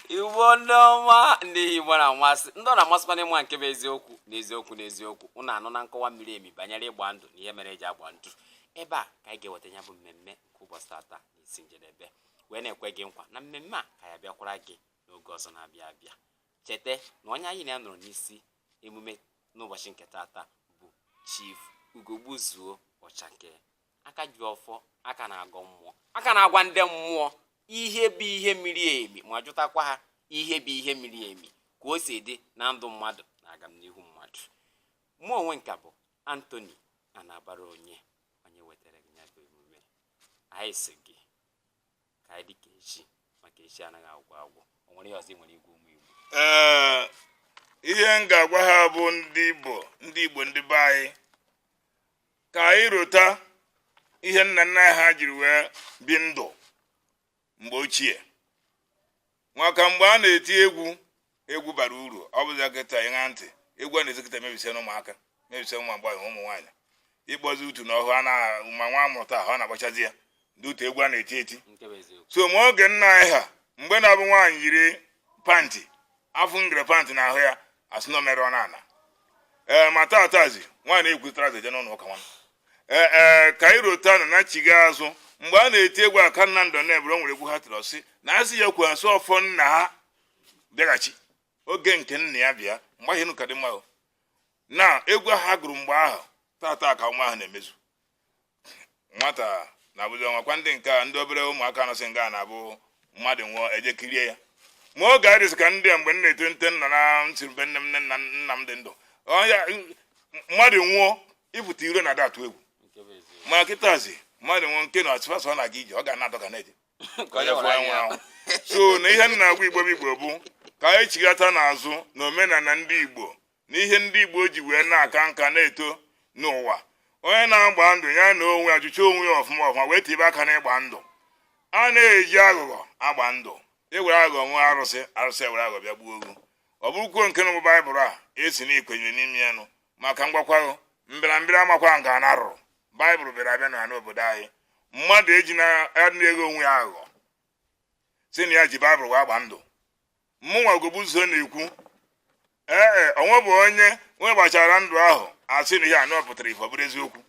igbo ndị ọma ndị igbo na-amasị ndị ọ na-amasịkwa n'ịma nke bụ eziokwu na eziokwu na eziokwu unu anụna nkọwa miri emi banyere ịgba ndụ na ihe mere eji agba ndụ ebe a ka anyị ga-eweta ya bụ mmemme nke ụbọchị tata isi njedebe wee na-ekwe gị nkwa na mmemme a ka ya-abịakwara gị n'oge ọzọ na-abịa abịa cheta na onye anyị na ya nọrọ n'isi emume n'ụbọchị nke taata bụ Chief Ugogbuzuo Ọchake aka ji ọfọ aka na-agọ mmụọ aka na-agwa ndị mmụọ ihe bụ ihe miri emi ma jụtakwa ha ihe bụ ihe miri emi ka o si dị na ndụ mmadụ na agamnihu mmadụ mụ onwe m ka bụ Anthony Anabaraonye onye wetara gị ya bụ emume anyị sị gị ka anyị dịka echi maka echi anaghị agwụ agwụ o nwere ihe ọzọ ị nwere ịgwa ụmụ igbo ee ihe m ga-agwa ha bụ ndị igbo ndị be anyị ka anyị rota ihe nna nna anyị ha jiri wee bi ndụ mgbe ochie maka mgbe a na-eti egwu egwu bara uru ọ bụzi kịta ịṅa ntị egwu a na-ezi kịta mebisiana ụmụaka mebisia ụmụ agbọghọ ụmụ nwaanyị ịkpọzi utu na ọhụ ma nwa amụta ọhụụ na-agbachazi ya ndị otu egwu a na-eti eti so ma oge nna anyị ha mgbe na-abụ nwaanyị yiri pant afụ ngere pant n'ahụ ya asị na o merụọna ana ma taatazi nwaanyị na-eyikwu trouser eje n'ụlọ ụka nwa ee eh, eh, ka anyị rotanụ na chigha azụ mgbe a na-eti egwu aka nna ndụ na ebere nwere egwu ha tiri ọ sị na asị ya kwuo asụ ọfọ nna ha bịaghachi oge nke nna ya bịa mgbe ahụ ka dị mma na egwu ahụ ha gụrụ mgbe ahụ tata ka nwa ahụ na-emezu nwata na-abụzi ọnwakwa ndị nke a ndị obere ụmụaka anọsị nga na-abụ mmadụ nwụọ eje kirie ya ma oge ka ndị a mgbe m na-etonite nna na nsirube nne m na nna m dị ndụ mmadụ nwụọ ịpụta iro na-adị atụ egwu ma kịtazi mmadụ nwụọ nke na-atụ fashion na-aga ije ọ ga na-adọga na-eje ka onye fụọ anwụ anwụ so na ihe m na-agwa igbo bụ igbo bụ ka anyị chighatanụ azụ na omenala ndị igbo na ihe ndị igbo ji wee na-aka nka na-eto n'ụwa onye na-agba ndụ ya na onwe ya jụcha onwe ya ọfụma ọfụma wee tibe aka n'ịgba ndụ a na-eji aghụghọ agba ndụ ewere aghụghọ ṅụọ arụsị arụsị ewere aghụghọ bịa gbuo ogu ọ bụrụkwuo nke na baịbụl a ị sị na i kwenyere n'ime ya nụ maka m gwakwa gị mbịarambịa amakwa nga ana rụrụ baịbụl bịara abịa n'obodo anyị mmadụ eji na-aghọ onwe ya aghụghọ sị na ya ji baịbụl wee gba ndụ mụnwa Ogbubuzo na-ekwu ee e, o nwebu onye onye gbachara ndụ ahụ asị na ihe ahụ pụtara ife ọ bụrụ eziokwu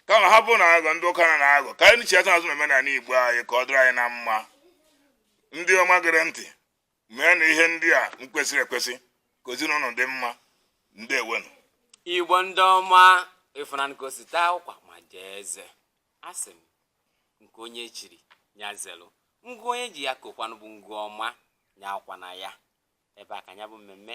kama ha bụ na aghụghọ ndị ụka na-aghọ ka anyị chiata azụ na omenala igbo anyị ka ọ dịrị anyị na mma ndị ọma gere ntị meenụ ihe ndị a kwesịrị ekwesị ka ezinụlọ dị mma ndewenụ igbo ndị ọma ịfụnanụ ka o si taa ụkwa majie eze asị m nke onye chiri ya zelụ ngụ onye ji ya kokwanụ bụ ngụ ọma ya akwana ya ebe a ka ya bụ mmemme